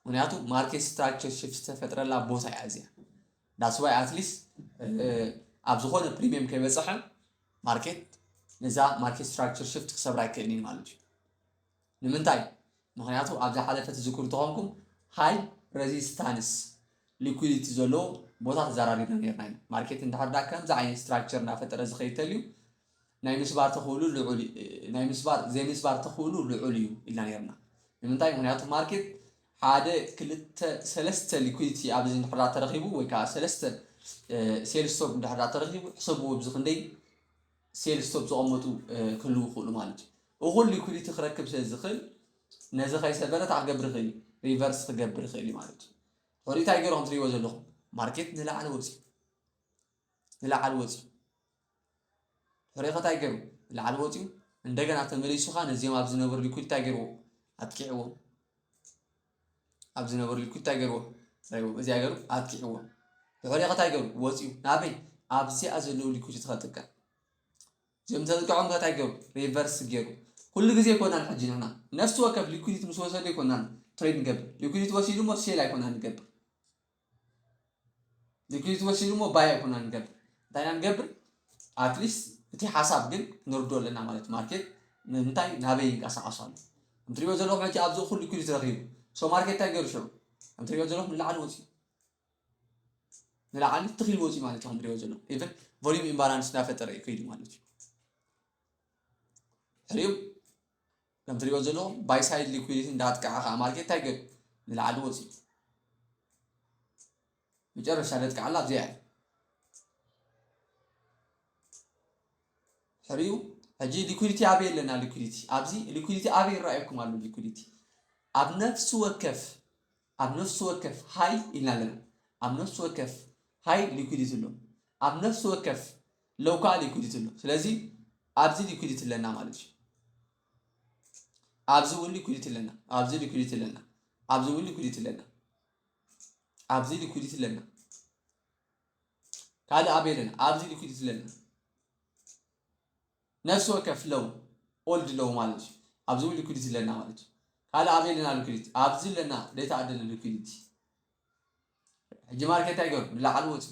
ምክንያቱ ማርኬት ስትራክቸር ሽፍት ዝተፈጥረላ ቦታ እያ እዚኣ ዳስዋይ ኣትሊስት ኣብ ዝኾነ ፕሪሚየም ከይበፅሐ ማርኬት ነዛ ማርኬት ስትራክቸር ሽፍት ክሰብራ ኣይክእልን ማለት እዩ ንምንታይ ምክንያቱ ኣብ ዝሓለፈ ትዝክሩ ተኾንኩም ሃይ ረዚስታንስ ሊኩዲቲ ዘለዎ ቦታ ተዘራሪብና ነርና ኢና። ማርኬት እንድሕር ዳ ከምዚ ዓይነት ስትራክቸር እናፈጠረ ዝኸይድ ተልዩ ናይ ምስባር ተኽእሉ ልዑል ናይ ምስባር ዘይምስባር ተኽእሉ ልዑል እዩ ኢልና ነርና። ንምንታይ ምክንያቱ ማርኬት ሓደ ክልተ ሰለስተ ሊኩዲቲ ኣብዚ እንድሕር ተረኺቡ ወይ ከዓ ሰለስተ ሴል ስቶፕ እንድሕር ተረኺቡ ሕሰብዎ ብዝኽንደይ ሴል ስቶፕ ዝቐመጡ ክህልው ይኽእሉ ማለት እዩ። እኹል ሊኩዲቲ ክረክብ ስለ ዝኽእል ነዚ ከይሰበረ እንታይ ክገብር ይኽእል እዩ? ሪቨርስ ክገብር ይኽእል እዩ ማለት እዩ። ሕሪ እንታይ ገይሩ ከም ትሪእዎ ዘለኹም ማርኬት ንላዕሊ ወፂኡ ንላዕሊ ወፂኡ ሕሪ ከታይ ገይሩ ንላዕሊ ወፂኡ እንደገና ተመሊሱ ከዓ ነዚኦም ኣብ ዝነበሩ ሊኩድ እንታይ ገይርዎ ኣጥቂዕዎም ኣብ ዝነበረሉ ኢልኩ እንታይ ገይርዎ? ረብዎ እዚኣ ገይሩ ኣጥቂዕዎ ድሕሪኡ ከ እንታይ ገይሩ ወፂኡ ናበይ ኣብ እዚኣ ዘለዉ ሊኩድ እቲ ከጥቀዕ እዚኦም ተጥቅዖም ከ እንታይ ገይሩ ሪቨርስ ገይሩ ኩሉ ግዜ ይኮናል ሕጂ ንሕና ነፍሲ ወከፍ ሊኩዲቲ ምስ ወሰዱ ይኮናል ትሬድ ንገብር ሊኩዲቲ ወሲዱ ሞ ሴል ኣይኮና ንገብር ንኪድ ትወሲዱ እሞ ባይ ኣይኮና ንገብር እንታይ ኢና ንገብር ኣትሊስት እቲ ሓሳብ ግን ክንርድኦ ኣለና ማለት እዩ ማርኬት ምንታይ ናበይ ይንቀሳቐስ ኣሎ ከም ትሪእዎ ዘለኹም ሕጂ ኣብዚ እኹል ሊኩዲቲ ረኺቡ ሶ ማርኬት እንታይ ገይሩ ሽዑ ከም ትሪእዎ ዘለኹም ንላዕሊ ወፂኡ ንላዕሊ ትኺል ወፂኡ ማለት እዩ ከም ትሪእዎ ዘለኹም ኢቨን ቮሊዩም ኢምባላንስ እናፈጠረ እዩ ከይዱ ማለት እዩ ሕሪኡ ከም ትሪእዎ ዘለኹም ባይ ሳይድ ሊኩዲቲ እንዳጥቅዐ ከዓ ማርኬት እንታይ ገብ ንላዕሊ ወፂኡ መጨረሻ ዘጥቅዓላ ኣብዚኣ እያ ሕሪኡ ሕጂ ሊኩዲቲ ኣበይ ኣለና ሊኩዲቲ ኣብዚ ሊኩዲቲ ኣበይ ይረኣየኩም ኣሎ ሊኩዲቲ ኣብ ነፍሲ ወከፍ ኣብ ነፍሲ ወከፍ ሃይ ኢልና ኣለና። ኣብ ነፍሲ ወከፍ ሃይ ሊኩዲቲ ኣሎ። ኣብ ነፍሲ ወከፍ ሎው ከዓ ሊኩዲቲ ኣሎ። ስለዚ ኣብዚ ሊኩዲቲ ኣለና ማለት እዩ። ኣብዚ እውን ሊኩዲቲ ኣለና። ኣብዚ ሊኩዲቲ ኣለና። ኣብዚ እውን ሊኩዲቲ ኣለና። ኣብዚ ሊኩዲቲ ኣለና። ካልእ ኣበይ ኣለና? ኣብዚ ሊኩዲቲ ኣለና። ነፍሲ ወከፍ ለው፣ ኦልድ ለው ማለት እዩ። ኣብዚ እውን ሊኩዲቲ ኣለና ማለት እዩ። ካልእ ኣበይ ኣለና ሊኩዲቲ? ኣብዚ ኣለና ዴታ ኣደለ ሊኩዲቲ። ሕጂ ማርኬት እንታይ ገሩ? ንላዕሊ ወፂኡ።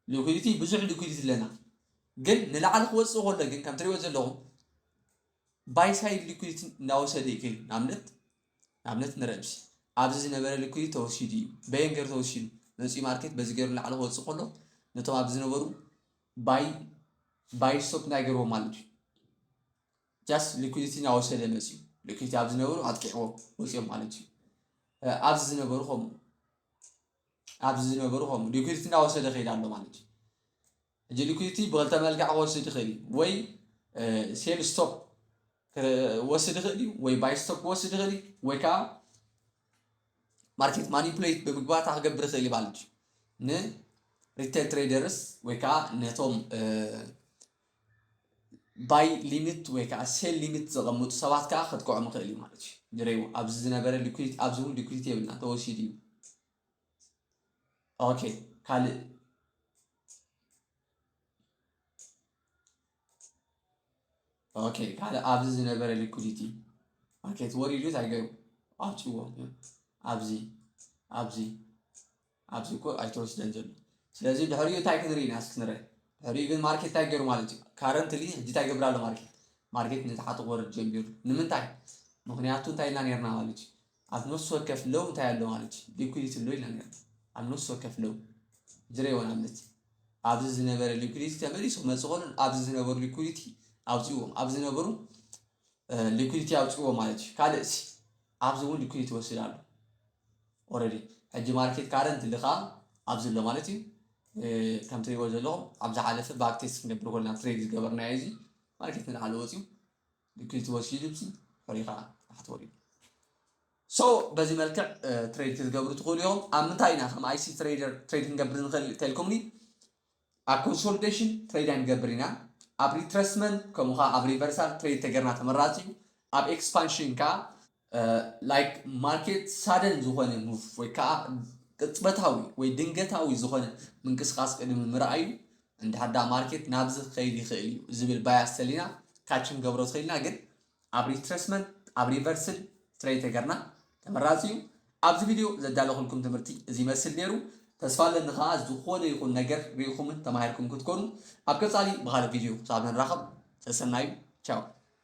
ሊኩዲቲ ብዙሕ ሊኩዲቲ ኣለና ግን ንላዕሊ ክወፅእ ከሎ ግን ከም ትሪእዎ ዘለኹም ባይሳይድ ሊኩዲቲ እናወሰደ እዩ ከይዱ ንኣብነት ንኣብነት ንረብሲ ኣብዚ ዝነበረ ሊኩዲቲ ተወሲዱ እዩ በየን ገይሩ ተወሲዱ መፅኡ ማርኬት በዚ ገይሩ ንላዕሊ ክወፅእ ከሎ ነቶም ኣብዚ ዝነበሩ ባይ ባይ ስቶፕ እንታይ ገርዎ ማለት እዩ ጃስት ሊኩዲቲ እናወሰደ መፅዩ ሊኩዲቲ ኣብ ዝነበሩ ኣጥቂዕዎም ወፂኦም ማለት እዩ ኣብዚ ዝነበሩ ከምኡ ኣብዚ ዝነበሩ ከምኡ ሊኩዲቲ እናወሰደ ከይድ ኣሎ ማለት እዩ ሕጂ ሊኩዲቲ ብክልተ መልክዕ ክወስድ ይኽእል እዩ ወይ ሴል ስቶፕ ክወስድ ይኽእል እዩ ወይ ባይ ስቶፕ ክወስድ ይኽእል እዩ ወይ ከዓ ማርኬት ማኒፕሌት ብምግባር እንታይ ክገብር ይኽእል እዩ ማለት እዩ ንሪቴል ትሬደርስ ወይ ከዓ ነቶም ባይ ሊሚት ወይ ከዓ ሴል ሊሚት ዘቐምጡ ሰባት ከዓ ከጥቀዖም ይኽእል እዩ ማለት እዩ ንሬው ኣብዚ ዝነበረ ሊኩዊድ ኣብዚ እውን ሊኩዊድ የብልና ተወሲዱ እዩ ኦኬ ካልእ ኦኬ ካልእ ኣብዚ ዝነበረ ሊኩዲቲ ኦኬ እቲ ወሪዱ እንታይ ገይሩ ኣውፂዎ ኣብዚ ኣብዚ ኣብዚ እኮ ኣይተወስደን ዘሎ ስለዚ ድሕሪኡ እንታይ ክንርኢ ኢና እስኪ ንርአ ድሕሪኡ ግን ማርኬት እንታይ ገይሩ ማለት እዩ ካረንትሊ ሕጂ እንታይ ይገብር ኣሎ ማርኬት ማርኬት ነቲ ሓጥቕ ወርድ ጀሚሩ ንምንታይ ምክንያቱ እንታይ ኢልና ነርና ማለት እዩ ኣብ ነፍሲ ወከፍ ሎው እንታይ ኣሎ ማለት እዩ ሊኩዲቲ ኣሎ ኢልና ነይሩ ኣብ ነፍሲ ወከፍ ሎው ዝረ ይሆን ኣብነት ኣብዚ ዝነበረ ሊኩዲቲ ተመሊሱ ክመፅ ከሎን ኣብዚ ዝነበሩ ሊኩዲቲ ኣውፅዎም ኣብ ዝነበሩ ሊኩዲቲ ኣውፅዎ ማለት እዩ ካልእ ሲ ኣብዚ እውን ሊኩዲቲ ወስድ ኣሎ ኦረዲ ሕጂ ማርኬት ካረንት ልካ ኣብዚ ኣሎ ማለት እዩ ከም ትሪእዎ ዘለኹም ኣብ ዝሓለፈ ባክቴስ ክንገብር ኮልና ትሬድ ዝገበርናዮ እዚ ማርኬት ንላዕሊ ወፅዩ ልክይ ትወሲዱ ብሲ ፈሪኻ ታሕቲ ወሪዱ ሶ በዚ መልክዕ ትሬድ ክትገብሩ ትኽእሉ ኢኹም ኣብ ምንታይ ኢና ከም ኣይሲ ትሬደር ትሬድ ክንገብር ንኽእል ተልኩምኒ ኣብ ኮንሶሊዴሽን ትሬድ ኣይንገብር ኢና ኣብ ሪትረስመንት ከምኡ ከዓ ኣብ ሪቨርሳል ትሬድ ተገርና ተመራፂ እዩ ኣብ ኤክስፓንሽን ከዓ like market sudden ዝኾነ move ወይ ከዓ ቅጽበታዊ ወይ ድንገታዊ ዝኾነ ምንቅስቃስ ቅድሚ ምርኣዩ እንድሕር ዳ ማርኬት ናብዚ ክኸይድ ይኽእል እዩ ዝብል ባያስ ተሊና ካች ክንገብሮ ትኽእልና ግን ኣብ ሪትረስመንት ኣብ ሪቨርስል ትሬይ ተገርና ተመራፂ እዩ ኣብዚ ቪድዮ ዘዳለኹልኩም ትምህርቲ እዚ ይመስል ነይሩ ተስፋ ኣለኒ ከዓ ዝኾነ ይኹን ነገር ርኢኹምን ተማሂርኩም ክትኮኑ ኣብ ቀፃሊ ብካልእ ቪድዮ ክሳብ ንራኸብ ሰሰናዩ ቻው